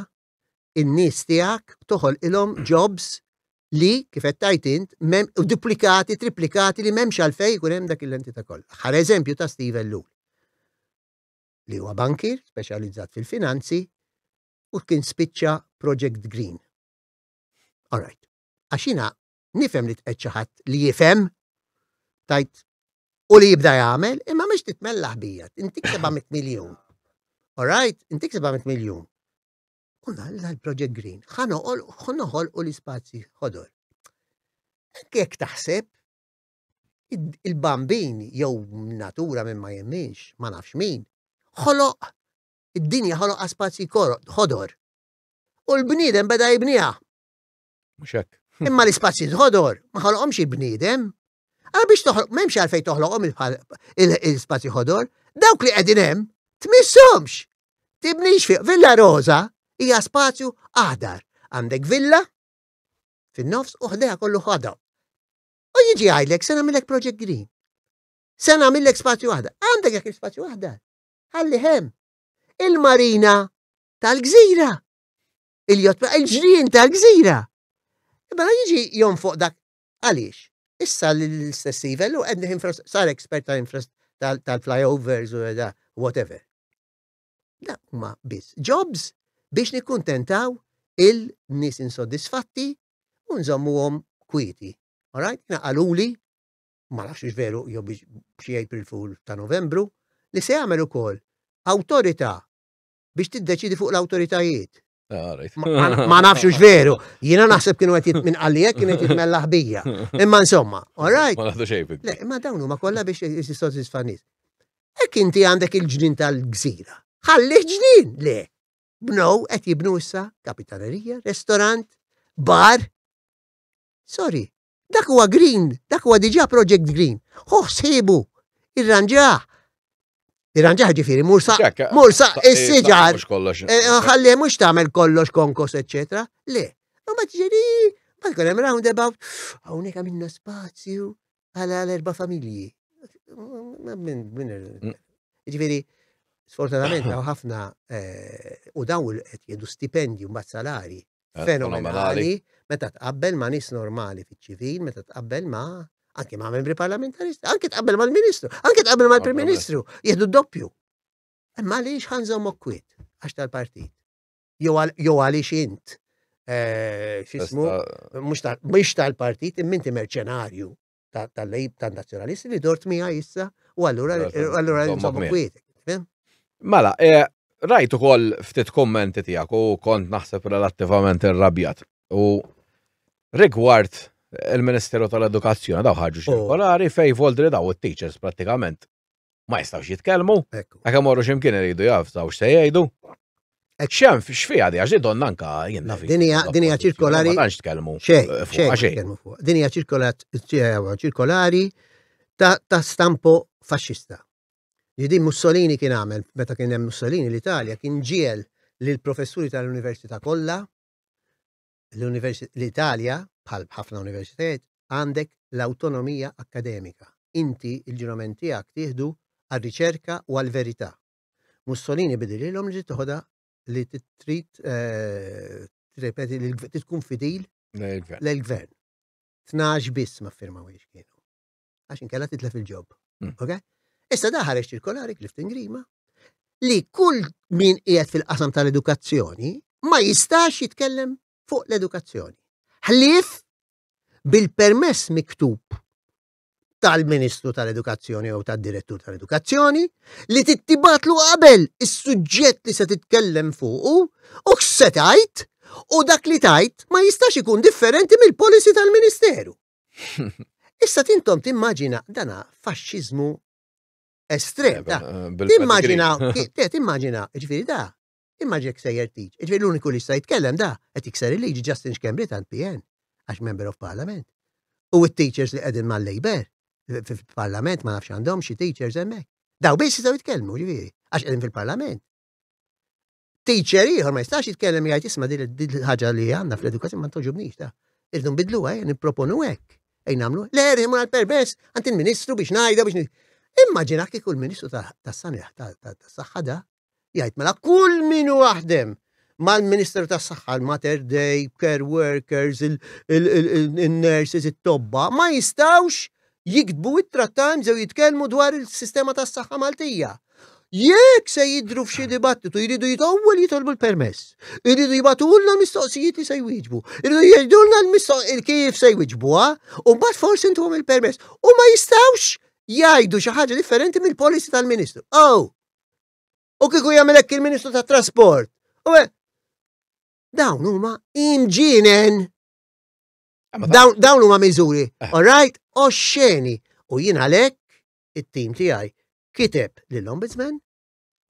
in-nies tiegħek, toħolqilhom jobs li kif qed tajt int u duplikati, triplikati li m'hemmx għalfejn ikun hemm dak l-entità kollha. Ħar eżempju ta' Steve Ellul li huwa bankir speċjalizzat fil-finanzi u kien spiċċa Project Green. All right. Għaxina Nifhem li tqegħid xi ħadd li jifhem, tajt u li jibda jagħmel, imma mhix titmella ħbija, intik 700 miljun. All right, intik 700 miljun. U l-Project Green, ħanoħol u l-ispazji ħodor. Kek taħseb, il-bambin jew natura minn ma jemminx, ma nafx min, ħoloq, id-dinja ħoloq spazji ħodor. U l-bniedem beda jibniha. Mhux hekk. Imma l-ispazji ħodor ma ħolqhomx il-bniedem. Għal biex toħloq m'hemmx għalfejn toħloqhom il-spazji ħodor, dawk li qegħdin hemm tmissomx. Tibnix fiq Villa Rosa hija spazju aħdar. Għandek villa fin-nofs u ħdeha kollu ħadha. U jiġi għajlek se nagħmilek Project Green. Se nagħmilek spazju waħda. Għandek jekk spazju waħda. Ħalli hemm il-marina tal-gżira. il-jott, il-ġrien tal-gżira. Mela jiġi jom fuq dak għaliex. Issa l-istess ivel u għedni sar ekspert tal-flyovers u da, whatever. Da huma biss jobs biex nikkuntentaw il-nis insoddisfatti u nżommuhom kwiti. Alright, naqaluli, ma nafx veru jew biex xi April Fool ta' Novembru, li se jagħmel ukoll awtorità biex tiddeċidi fuq l-awtoritajiet. Ah, ma nafx ux veru, jina naħseb kienu għet minn għalijek kienu għet mella ħbija. Imma insomma, all right. Ma naħdu xejn. Le, ma dawnu ma kolla biex jistisodzi sfanis. Ek inti għandek il-ġnin tal-gżira. Ħalli ġnin, le. Bnow għet jibnu issa kapitanerija, restorant, bar. Sorry, Dak huwa green, dak huwa diġà project green. Ħuh ħsiebu, irranġah. Irranġah ġifieri mur sa mur sa is-siġar. Eh, ħalli mhux tagħmel kollox konkos eċetera. Le, u ma tiġi ma tkun hemm roundabout, hawnhekk għamilna spazju għal erba' familji. Mm. Ġifieri, sfortunatament hawn ħafna eh, u dawn qed jiedu stipendju mbagħad salari fenomenali meta tqabbel ma' nies normali fiċ-ċivil, meta tqabbel ma' anke ma' membri parlamentaristi, anke tqabbel mal-Ministru, anke tqabbel mal-Prim Ministru, jieħdu doppju. Imma għaliex ħanżom okkwit għax tal-partit. Jew għaliex int eh, xismu, mux tal-partit, imminti merċenarju. tal-lejb tan-nazzjonalisti li dort miegħi issa u allura allura nżommu kwiet. Mela, eh, rajt ukoll ftit kommenti tiegħek u kont naħseb relattivament irrabjat. U rigward il-Ministeru tal-Edukazzjoni daw ħarġu oh. ċirkolari fej voldri daw it-teachers pratikament ma jistawx jitkellmu, għak għamorru ximkien iridu jaftaw x'se jgħidu. Xem, xfija di, għax donna anka jenna fi. Dinja ċirkolari. Għanx tkellmu. Xej, Dinja ċirkolari ta' stampo fasċista. Jidi Mussolini kien għamel, meta kien hemm Mussolini l-Italja, kien ġiel l-professuri tal-Università kollha l-Italja, bħal ħafna universitajiet, għandek l-awtonomija akkademika. Inti l-ġurament tiegħek tieħdu għar-riċerka u għall-verità. Mussolini bidililhom li trid toħodha li trid tirrepeti li tkun fidil l-gvern. Tnax biss ma firmawiex kienu. għax inkella titlef il-ġob. Hmm. Ok? Issa da ħareġ ċirkolari Clifton Grima li kull min qiegħed fil-qasam tal-edukazzjoni ma jistax jitkellem fuq l-edukazzjoni. Ħlief bil-permess miktub tal-Ministru tal-Edukazzjoni jew tad-Direttur tal-Edukazzjoni li tittibatlu qabel is-suġġett li se titkellem fuqu u x'se tajt u dak li tajt ma jistax ikun differenti mill-policy tal-Ministeru. Issa tintom timmaġina dana faxxiżmu estrem. Eh, eh, timmaġina, eh, timmaġina, ġifiri da, immaġina ksejjer tiġ. Ġifiri l-uniku li sta jitkellem da, għet jikser il-liġi Justin Xkembri tant PN, għax member of parliament. U t-teachers li għedin ma' labor fil-parlament ma' nafx għandhom xie teachers emmek. Daw biss jistaw jitkellmu, ġifiri, għax għedin fil-parlament. teacher ieħor ma jistax jitkellem jgħid isma' din il-ħaġa li għandna fl-edukazzjoni ma toġobniex ta' irdu nbidlu għaj, eh, nipproponu hekk. Ej nagħmlu, le rħimu għall-permess għand il-Ministru biex ngħidha biex Immaġina kieku l-Ministru tas-Saniħ tas-Saħħa da jgħid mela kull min waħdem mal-Ministru tas-Saħħa, l-Mater Day, care workers, il-nurses, it-tobba, ma jistawx jiktbu ittra Times jew jitkellmu dwar il-sistema tas-saħħa Maltija. Jekk se jidru f'xi dibattitu jridu jitgħu li jitolbu l-permess. Iridu jibatulna l-mistoqsijiet li se jwieġbu. Iridu jgħidulna l-mistoqsijiet kif se jwieġbuha u mbagħad forsi intuhom il-permess. U ma jistgħux jgħidu xi ħaġa differenti mill-policy tal-Ministru. Oh! U kieku jagħmel hekk il-Ministru tat-Trasport. U dawn huma imġienen. Dawn huma miżuri, eh. all right, u xeni. U jien għalhekk it-tim tiegħi kiteb lill-Ombudsman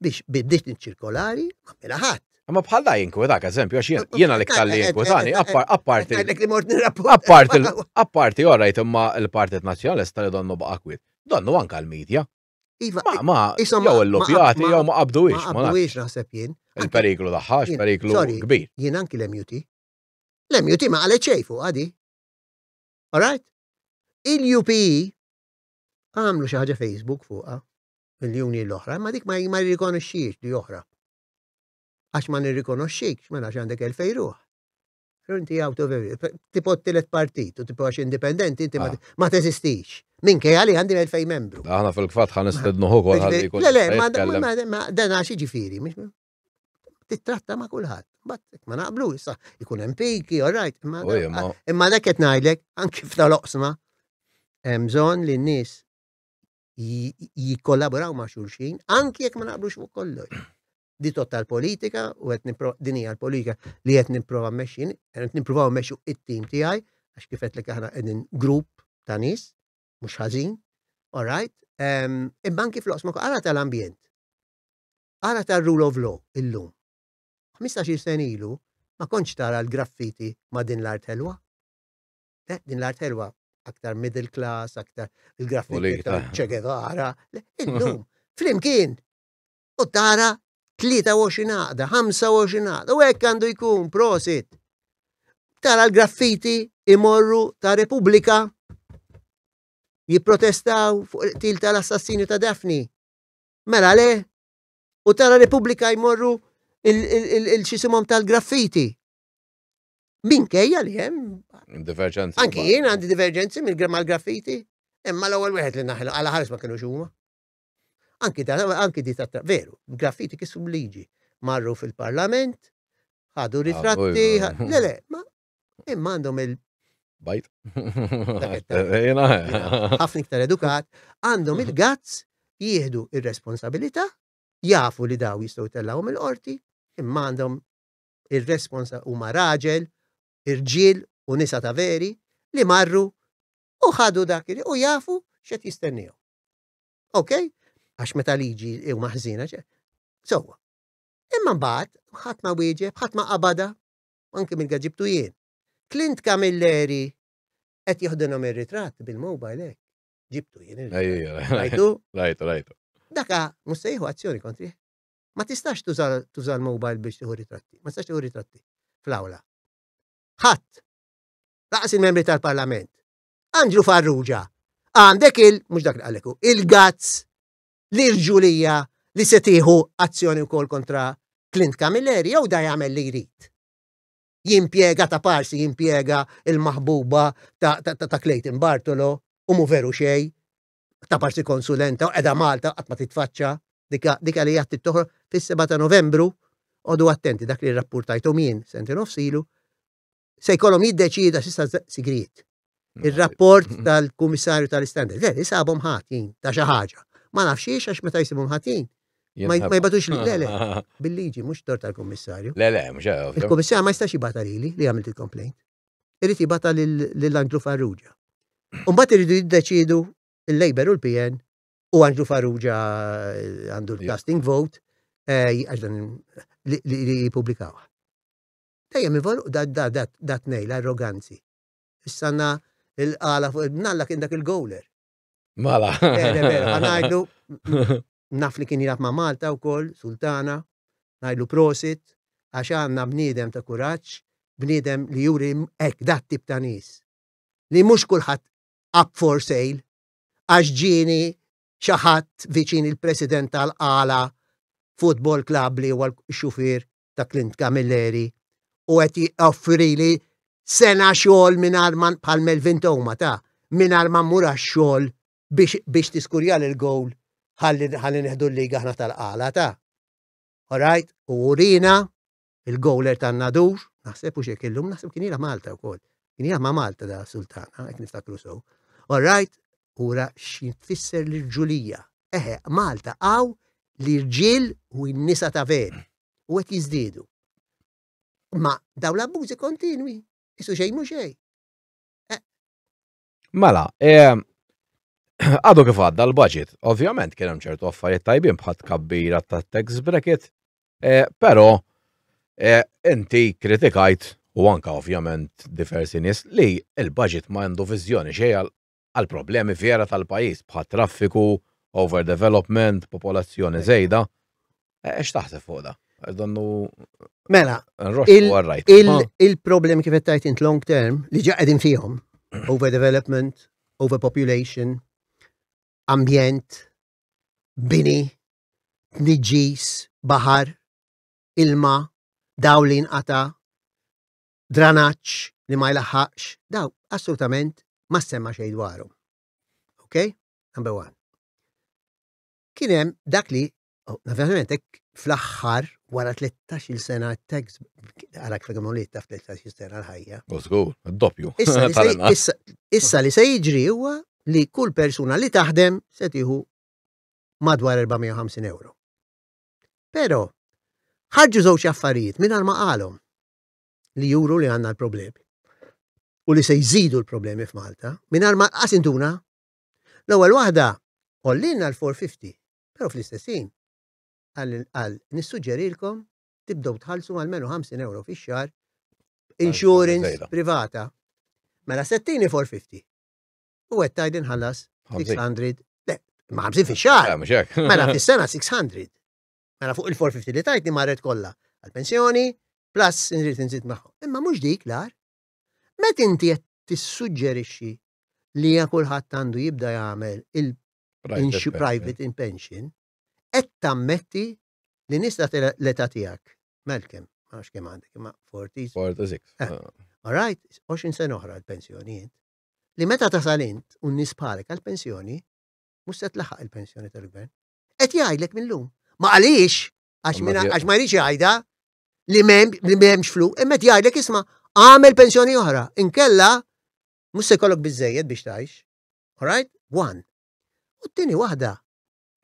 biex biddiet ċirkolari ma mela ħadd. Ma bħalla jinkwetak, eżempju, għax jena li ktalli jinkwetani, apparti. Apparti, apparti, orajt, imma il-Partit Nazjonalista li donnu baqa kwit. Donnu anka l-medja. Iva, ma, ma, jew l-lupjati, jew ma qabdu ix. Ma qabdu ix naħseb jien. Il-periklu daħħax, periklu kbir. Jien anki l-MUT. L-MUT ma qalet xejn fuqha di. Alright? Il-UPE għamlu xi ħaġa Facebook fuqha miljuni l-oħra, ma dik ma jirrikonoxxix li oħra. Għax ma nirrikonoxxix, ma nafx għandek il fejruħ. Inti out of tipo t-tilet partit u tipo għax indipendenti, inti ah. ma teżistix. Min kej għalli għandi il fej membru. Għana fil-kfat għan istednu hu għal Le, le, ma dan għax ġifiri, Tittratta ma' kulħadd. Bat ma naqblu issa ikun hemm piki, all right. Imma dak qed ngħidlek anki f'ta' loqsma hemm bżonn li n-nies jikkollaboraw ma' xulxin anki jekk ma naqblux fuq kollox. Di total politika u qed din hija l-politika li qed nipprova mmexxin, qed nipprovaw mmexxu it-tim tiegħi għax kif qed aħna qegħdin grupp ta' nies mhux ħażin, all right. Imma anki fl-oqsma għala tal-ambjent Ara tar-Rule of Law illum. Ħmistax-il sena ilu ma kontx tara l-graffiti ma' din l-art ħelwa. Eh, din l-art ħelwa aktar middle class, aktar il-graffiti ta' Che Guevara. Illum, flimkien, u tara 23 għaqda, 25 għaqda, u hekk għandu jkun, prosit. Tara l-graffiti imorru ta' Repubblika jipprotestaw fuq il-qtil tal-assassini ta' Daphne. Mela le? U tara Repubblika jmorru il-xisimom tal-graffiti. Min kejja li jem? Divergenzi. Anki jien għandi divergenzi mill-graffiti. Imma l-ewwel wieħed li naħlu għala ħares ma kienu xuma. Anki dan, anki di ta' veru, graffiti kissu liġi. Marru fil-parlament, ħadu ritratti, le le, ma imma għandhom il- Bajt. Ħafna iktar edukat, għandhom il-gazz jieħdu ir-responsabilità, jafu li daw jistgħu tellawhom il-qorti, imma għandhom ir-responsa huma raġel, irġiel u nisa ta' veri li marru u ħadu dak u jafu x'qed jistennihom. Ok? Għax meta liġi u maħżina ċe. Sowa. Imma mbagħad ħadd ma wieġeb, ħadd ma qabada, anke minn ga ġibtu jien. Clint Camilleri qed jieħdilhom ir-ritratt bil-mobile hekk. Ġibtu jien. Rajtu? Rajtu, rajtu. Daka mhux se jieħu azzjoni kontri. Ma tistax tuża l-mobile biex tieħu ritratti. Ma tistax tieħu ritratti fl-awla. Ħadd. Laqas il-membri tal-Parlament. Andrew Farrugia. Għandek il, mhux dak li għaleku, il-gazz l-irġulija li se tieħu azzjoni wkoll kontra Clint Camilleri jew da jagħmel li jrid. Jimpjega ta' parsi jimpjega il-maħbuba ta', ta, ta, ta Clayton Bartolo u mu veru xej ta' parsi konsulenta u edha Malta qatt ma titfaċċa dika li jgħat toħro fis-7 ta' Novembru għodu attenti dak li rapportajtom jien sentin of silu se jkollhom jiddeċida x'issa sigriet. Ir-rapport mm. tal-Kummissarju tal-Istandard, le, isabhom ħatin ta' xi ħaġa. Ma nafx xiex għax meta jsibhom ħatin. Ma jbatux li, le, le, bil-liġi, mhux tor tal-Kummissarju. Le, le, mhux Il-Kummissarju ma jistax jibata lili li għamilt il-complaint. Irid jibata lil Andrew Farrugia. Umbat iridu jiddeċidu il-Labor u l-PN u Andrew Farrugia eh, għandu l-casting vote eh, għax dan li jipublikawa. Dejjem ivolqu dat-tnejn l-arroganzi. Issa na il-qala fuq il-bnalla kien dak il-gowler. Mala. Għanajdlu, naf li kien jilab ma' Malta u koll, Sultana, najdlu prosit, għax għanna bnidem ta' kuraċ, bnidem li juri ek dat tip ta' nis. Li mux kullħat up for sale, għax ġini xaħat viċin il-president tal-għala football club li huwa l-xufir ta' Clint Camilleri u qed joffrili sena xogħol mingħajr man bħal Melvin Toma ta' mingħajr ma mmur għax-xogħol biex biex tiskurja lil gowl ħalli ħalli neħdu l-liga aħna tal-qala ta'. Alright, u urina il-gowler tan-nadur, naħseb u xek illum, naħseb kien jilha Malta wkoll. Kien jilha ma' Malta da' Sultana, hekk niftakru sew. Alright, ura xi tfisser l-irġulija. Eħe, Malta hawn l-irġiel u n-nisa ta' veru, u qed jiżdiedu. Imma dawn l-abbużi kontinwi, isu xejn mhu xejn. Eh. Mela, eh, għadu kif għadda l-budget, ovvjament kien hemm ċertu affarijiet tajbin bħat kabbira ta' tax bracket, eh, però inti kritikajt u anka ovvjament diversi nies li l-budget ma għandu viżjoni xejn għal problemi vera tal-pajjiż bħat-traffiku, overdevelopment, popolazzjoni żejda. Eh, x'taħseb fuq da? Donnu. Mela, il-problemi kif qed tajt int long term li ġa qegħdin fihom, overdevelopment, overpopulation, ambjent, bini, tniġġis, bahar, ilma, dawl li nqata, dranaġġ li ma jlaħħaqx, daw assolutament ma semma xejn dwarhom. Ok? Number one. Kien hemm dak li, oh, naturalment, fl-aħħar wara 13-il sena t-tax għalak fil għamulit taf 13-il sena l-ħajja. Użgur, doppju. Issa li se jiġri huwa li kull persuna li taħdem se tieħu madwar 450 euro. Pero, ħarġu żewġ affarijiet minn ma qalhom. li juru li għandna l-problemi u li se jżidu l-problemi f'Malta, mingħajr ma qas intuna l-ewwel waħda għollina l-450, però fl-istessin għal nissuġġerilkom tibdew tħallsu għal menu 50 euro fix-xar insurance privata. Mela settini 450. U għed tajd inħallas 600. Le, ma' 50 fix-xar. Mela fis-sena 600. Mela fuq il-450 li tajtni marret kollha għall-pensjoni, plus nrid inżid magħhom. Imma mhux dik l-ar. Met inti qed tissuġġerixxi li ja kulħadd għandu jibda jagħmel il-private in pension, qed tammetti li nista l-età tiegħek, Malcolm, ma nafx kemm għandek, imma 40. 46. Eh, ah. All right, 20 sena oħra l-pensjonijiet. Li meta tasalint un nisbħalek għal-pensjoni, mhux se tlaħaq il-pensjoni tal-gvern. Qed jgħidlek mill-lum. Ma għaliex, għax ma jridx jgħidha li m'hemmx flu, imma qed jgħidlek isma' għamel pensjoni oħra, inkella mhux se jkollok biżejjed biex tgħix. Alright? One. U t-tieni waħda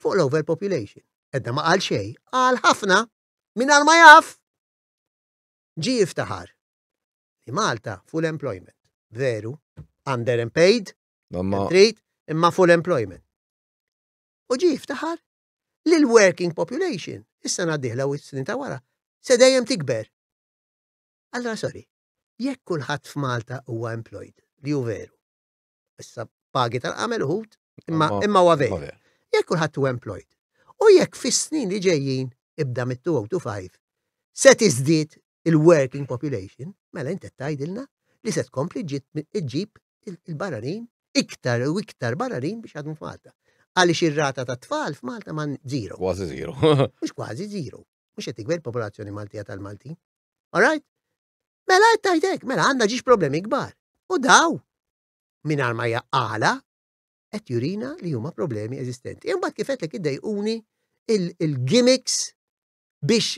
fuq l-overpopulation. Edda ma qal xej, qal ħafna minn ma jaf ġi jiftaħar. Li Malta full employment. Veru, underemployed, trid, imma full employment. u ġie jiftaħar li l-working population, is-sena d-dieħla u s-snin ta' wara, se dejjem tikber. Allora sorry, jekk kulħadd f'Malta huwa employed, li hu veru. Issa pagi tal-qamel uħud, imma imma huwa veru. Jekk kulħadd huwa employed. U jekk fis-snin li ġejjin ibda mit-2025 se tiżdied il-working population, mela inti tgħidilna li se tkompli ġġib il-barranin iktar u iktar barranin biex għadhom f'Malta. Għaliex ir-rata ta' tfal f'Malta ma' zero. Kważi zero. Mhux kważi zero. Mhux qed tikber popolazzjoni Maltija tal-Maltin. Alright? Mela qed tgħidek, mela għandna ġiex problemi kbar. U daw minn ma jaqala qed jurina li huma problemi eżistenti. Imbagħad kif qed id-dejquni il-gimmicks biex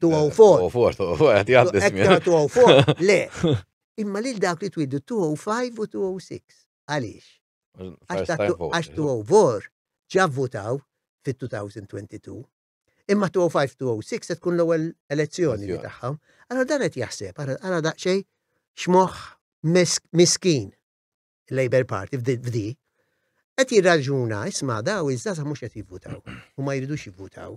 Tu għaw for. Tu għaw for, tu għaw for, għati għaddi smija. Tu għaw for, le. Imma lil dak li twiddu 205 u 206. Għalix? Għax tu għaw for ġavvutaw fit-2022. Imma 205-206 se tkun l-ewwel elezzjoni li tagħhom. Allora dan qed jaħseb, ara daqsxejn x'moħħ miskin il-Labor Party f'di qed jirraġuna isma' daw iż-żaza mhux qed jivvutaw u ma jridux jivvutaw.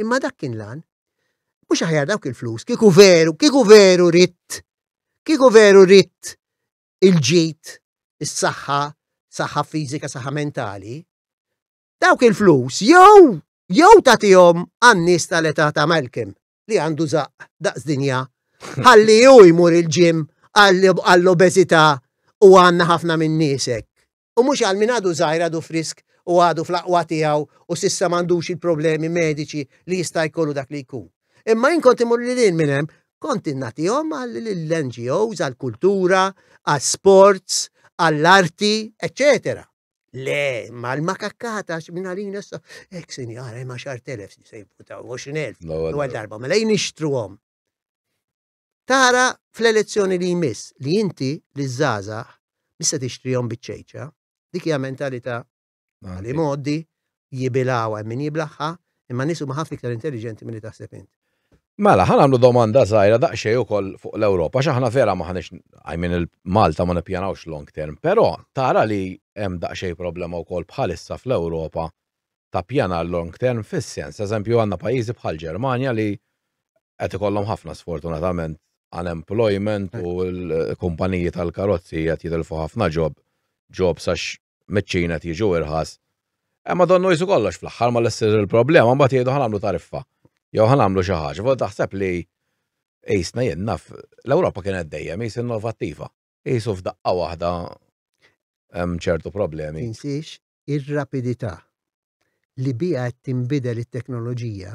Imma dak kien lan. Mhux aħjar dawk il-flus, kieku veru, kieku veru ritt, kieku veru ritt il-ġid, is-saħħa, saħħa fiżika, saħħa mentali, dawk il-flus jew jew tagħtihom għan-nies tal-età ta' Malcolm li għandu zaq daqs dinja ħalli hu jmur il-ġim għall-obeżità u għandna ħafna minn niesek. u mhux għal min għadu żgħir għadu frisk u għadu fl-aqwa tiegħu u s'issa m'għandux il-problemi mediċi li jista' jkollu dak li jkun. Imma jien kont imur lil hinn minn hemm, kont innatihom għall-NGOs, għall-kultura, għall-sports, għall-arti, eċċetera. Le, ma l-makakkata minn għalina sa, ek sinjara, ma xar telef si sejbu ta' 20.000, u għal darba, ma lejn ixtruhom. Tara fl-elezzjoni li jmiss li inti liż-żgħażagħ mhix se tixtrihom biċ-ċejċa. Dik hija mentalità li mgħoddi jibilgħuha hemm min jiblaħħa, imma n-nies huma ħafna iktar intelliġenti milli taħseb int. Mela, ħa nagħmlu domanda żgħira daqsxejn ukoll fuq l-Ewropa għax aħna vera m'aħniex I mean il-Malta ma nippjanawx long term, però tara li hemm daqsxejn problema wkoll bħalissa fl-Ewropa ta' pjanar long term fis-sens, eżempju għandna pajjiżi bħall-Ġermanja li qed ikollhom ħafna sfortunatament unemployment u l-kumpaniji tal-karozzi qed jitilfu ħafna ġob, ġob sax meċċina qed jiġu irħas. Imma donnu jisu kollox fl-aħħar ma l-essir il-problema mbagħad jgħidu ħanamlu tariffa. Jew ħanamlu xi ħaġa, fuq taħseb li qisna jien naf l-Ewropa kienet dejjem qis innovattiva. Qisu f'daqqa waħda hemm ċertu problemi. Tinsiex ir-rapidità li biha qed tinbidel it-teknoloġija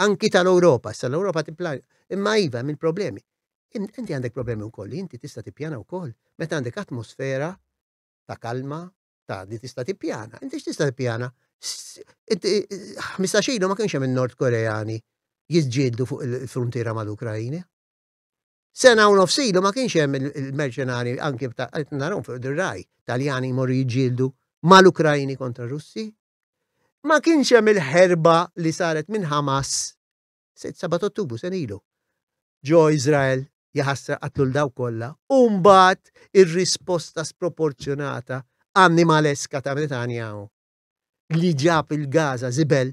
anki tal-Ewropa, sa l-Ewropa tipplanja. Imma iva hemm il-problemi. Inti għandek problemi wkoll li inti tista' tippjana wkoll meta għandek atmosfera ta' kalma ta' li tista' tippjana. Inti x'tista' tippjana? 15 ilu ma kienx hemm in-Nord Koreani jiġġieldu fuq il-fruntiera mal-Ukrajina. Sena u nofs ilu ma kienx hemm il-merċenari anki qed narhom fuq dir-raj Taljani jmorru jiġġieldu mal-Ukrajni kontra Russi. Ma kienx hemm il-ħerba li saret minn Hamas 7 Ottubru sen ilu. Ġo Iżrael jaħasra qatlu l daw kollha u mbagħad ir-risposta sproporzjonata annimaleska ta' Netanyahu li ġab il-Gaza zibel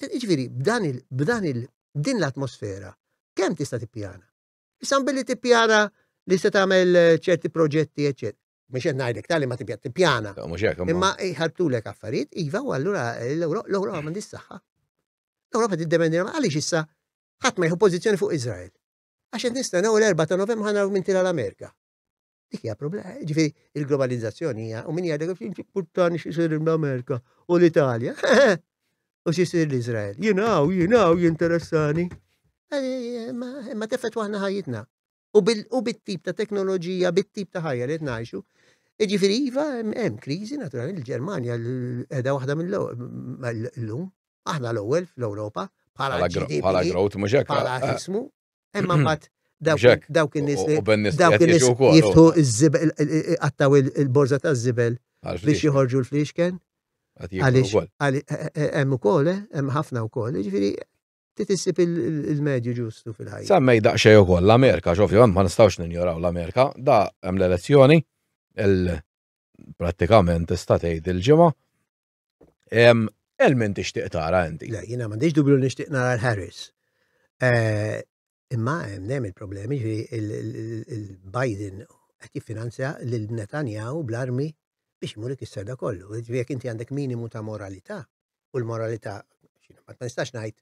Ġifieri, b'dan il, b'dan il, din l-atmosfera, kemm tista' tippjana? Issa billi tippjana li se tagħmel eh, ċerti proġetti, eċċetera. Mhux qed ngħidlek tali ma tippjana, tippjana. Imma jħartulek affarijiet, iva, u allura eh, l-Ewropa ma saħħa. L-Ewropa tiddependi għaliex issa ħadd ma jħu pożizzjoni fuq Iżrael. Għax qed nistennew l-4 ta' Novembru ħanaraw minn tira l-Amerika. Dik hija problema, ġifieri il-globalizzazzjoni hija u min jgħidek kif importanti x'isir l-Amerika u l-Italja. U x'isir l-Iżrael. Jinaw, jinaw jinteressani. Ma tefet waħna ħajjitna. U bit-tip ta' teknoloġija, bit-tip ta' ħajja li tnajxu. Ġifieri iva hemm kriżi naturalment il-Ġermanja qiegħda waħda mill-lum. Aħna l-ewwel fl-Ewropa bħala growth mhux hekk. Bħala ismu Imma mbagħad dawk in-nies li dawk in-nies jiftħu iż-żibel qattaw il-borża taż-żibel biex joħorġu l-fliexken. Għaliex eh, eh, eh, hemm ukoll, hemm ħafna wkoll, ġifieri titissib il-medju ġustu fil-ħajja. Semmej daqsxejn ukoll l-Amerika, xofju, ma nistgħux ninjoraw l-Amerika, da hemm l-elezzjoni, prattikament tista' tgħid il-ġimgħa, Elmin tixtieq tara inti. Le, jiena m'għandix dubju li nixtieq nara l-Harris. Eh, imma hemm il-problemi ġi il-Biden qed jiffinanzja lil Netanyahu bl-armi biex imur ikisser da kollu. Jekk inti għandek minimu ta' moralità u l-moralità ma nistax ngħid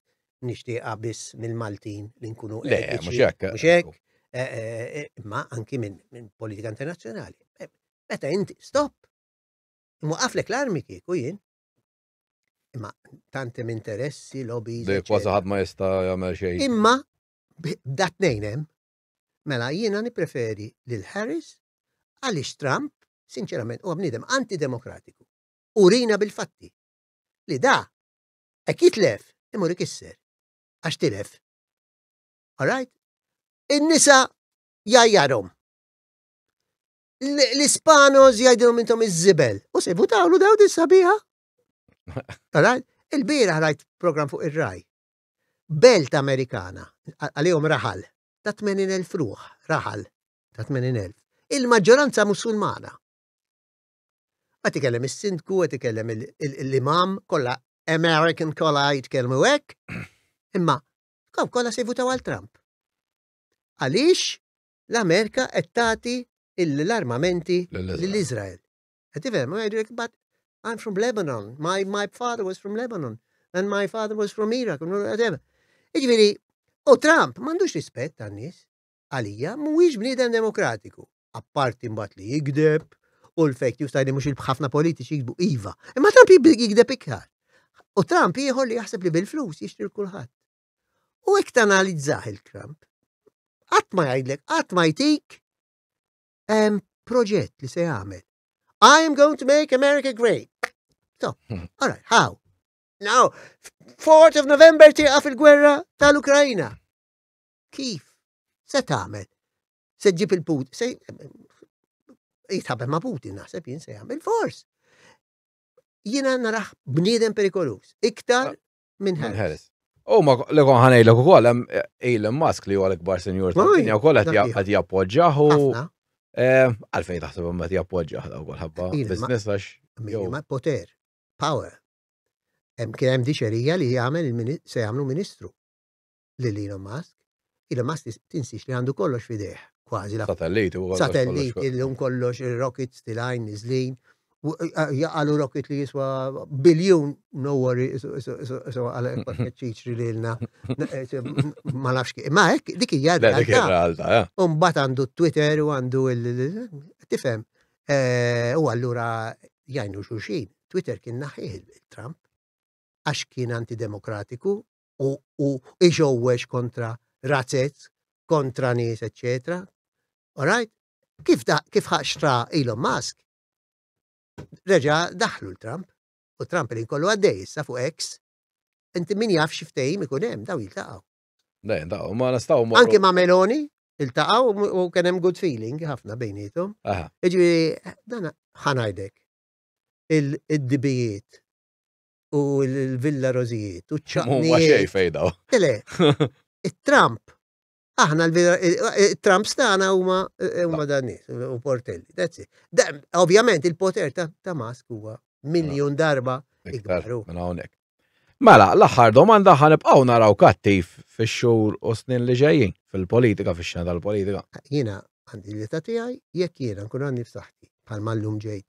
nixtieqha biss mill-Maltin li nkunu mhux hekk. Eh, eh, imma anki minn politika internazzjonali. Meta inti stop Mwaqaflek l-armi kieku jien. Imma tantem interessi, lobbies. Dej kważi ħadd ma jista' jagħmel xejn. Imma b'dat nejnem, mela jiena nippreferi lil Harris għaliex Trump, sinċerament, huwa bniedem antidemokratiku. Urina bil-fatti. Li da, hekk jitlef, imur ikisser. Għax tilef. All right? In-nisa jajjarhom. l-Ispanos jgħidilhom intom iż-żibel. U se jvutawlu daw din sabiħa. Il-bira ħrajt program fuq ir-raj. Belt Amerikana, għalihom raħal, ta' 80.000 ruħ, raħal ta' 80.000. Il-maġġoranza musulmana. Għat ikellem il-sindku, għat ikellem l-imam, kolla American kolla jitkellmu hekk, imma kolla se jvutaw għal Trump. Għaliex l-Amerika qed tagħti l-armamenti lil Iżrael. Qed tifhem, ma jgħidulek but I'm from Lebanon, my, my father was from Lebanon, and my father was from Iraq, Iġviri, u Trump m'għandux rispett għan-nies għalija mhuwiex bniedem demokratiku. Apparti mbagħad li jigdeb u l-fake news tajni mhux il-ħafna politiċi jikbu iva. Imma Trump jigdeb iktar. U Trump ieħor li jaħseb li bil-flus jixtri kulħadd. U hekk tanalizzah il-kramp. Qatt ma jgħidlek, qatt ma jtik hemm proġett li se jagħmel. I am going to make America great. So, hmm. all right, how? Now, 4th of November tieqaf il-gwerra tal-Ukrajna. Kif? Se tagħmel? Se ġib il-put, se jitħabem ma' Putin naħseb jien se jagħmel fors. Jiena naraħ bniedem perikolus. Iktar minn Harris. U ma li kon ħanejlek ukoll hemm Elon Musk li huwa l-ikbar senjur tad-dinja wkoll qed jappoġġjah u eh, għalfejn taħseb hemm qed jappoġġjah daw ħabba business għax. Ma poter, power. Hemm kien hemm diċerija li jagħmel se jagħmlu ministru. lil Elon Musk. Elon Musk tinsiex li għandu kollox fidejh, kważi la. Satelliti u Satelliti li kollox rockets tilajn niżlin. Jaqalu rocket li jiswa biljun, no worry, so għal ċiċri li l-na. Ma nafx kif. Ma hekk dik hija realtà. Eh. Umbat għandu Twitter u għandu il-tifem. Eh, u allura jajnu xuxin. Twitter kien naħħieħ il-Trump għax kien antidemokratiku u, u iġowwex kontra razzet, kontra nies, etc. Alright? Kif, da, kif ħaxtra Elon Musk, reġa daħlu l-Trump, u Trump li kollu għaddej issa fuq X, inti min jaf xiftejim ikun hemm, daw jiltaqgħu. Le, daw, ma nistaw morru. Anki ma' Meloni, iltaqaw u kien hemm good feeling ħafna bejnietom. Aha. Iġifieri dan ħanajdek il-dibijiet u l-Villa Rożijiet u ċ Huwa xej fejdaw. Tele, it-Trump, aħna l-Trump stana huma huma dan nies u portelli. That's it. Da- Ovvjament il-poter ta' ta' Musk huwa miljon darba ikbar. hu. Minn hawnhekk. Mela, l-aħħar domanda ħanibqgħu naraw kattiv fix-xhur u snin li ġejjin fil-politika, fix-xena tal-politika. Jiena għandi l-età tiegħi jekk jiena nkun għandi f'saħħti bħal mallum ġejt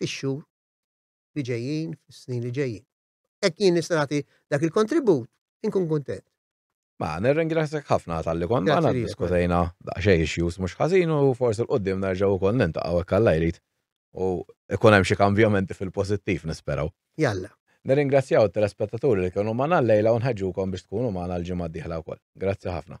fix-xhur li ġejjin, fis-snin li ġejjin. Hekk jien nista' nagħti dak il-kontribut, inkun kuntent. Ma, nirringrazzjak ħafna tal-li kont magħna diskutejna daqsxejn issues mhux ħażin u forsi l-qudiem nerġgħu wkoll niltaqgħu hekk Alla jrid. U ikun hemm xi kambjamenti fil-pożittiv nisperaw. Jalla. Nirringrazzjaw it-telespettaturi li kienu magħna llejla u nħeġġukom biex tkunu magħna l-ġimgħa d-dieħla wkoll. Grazzi ħafna.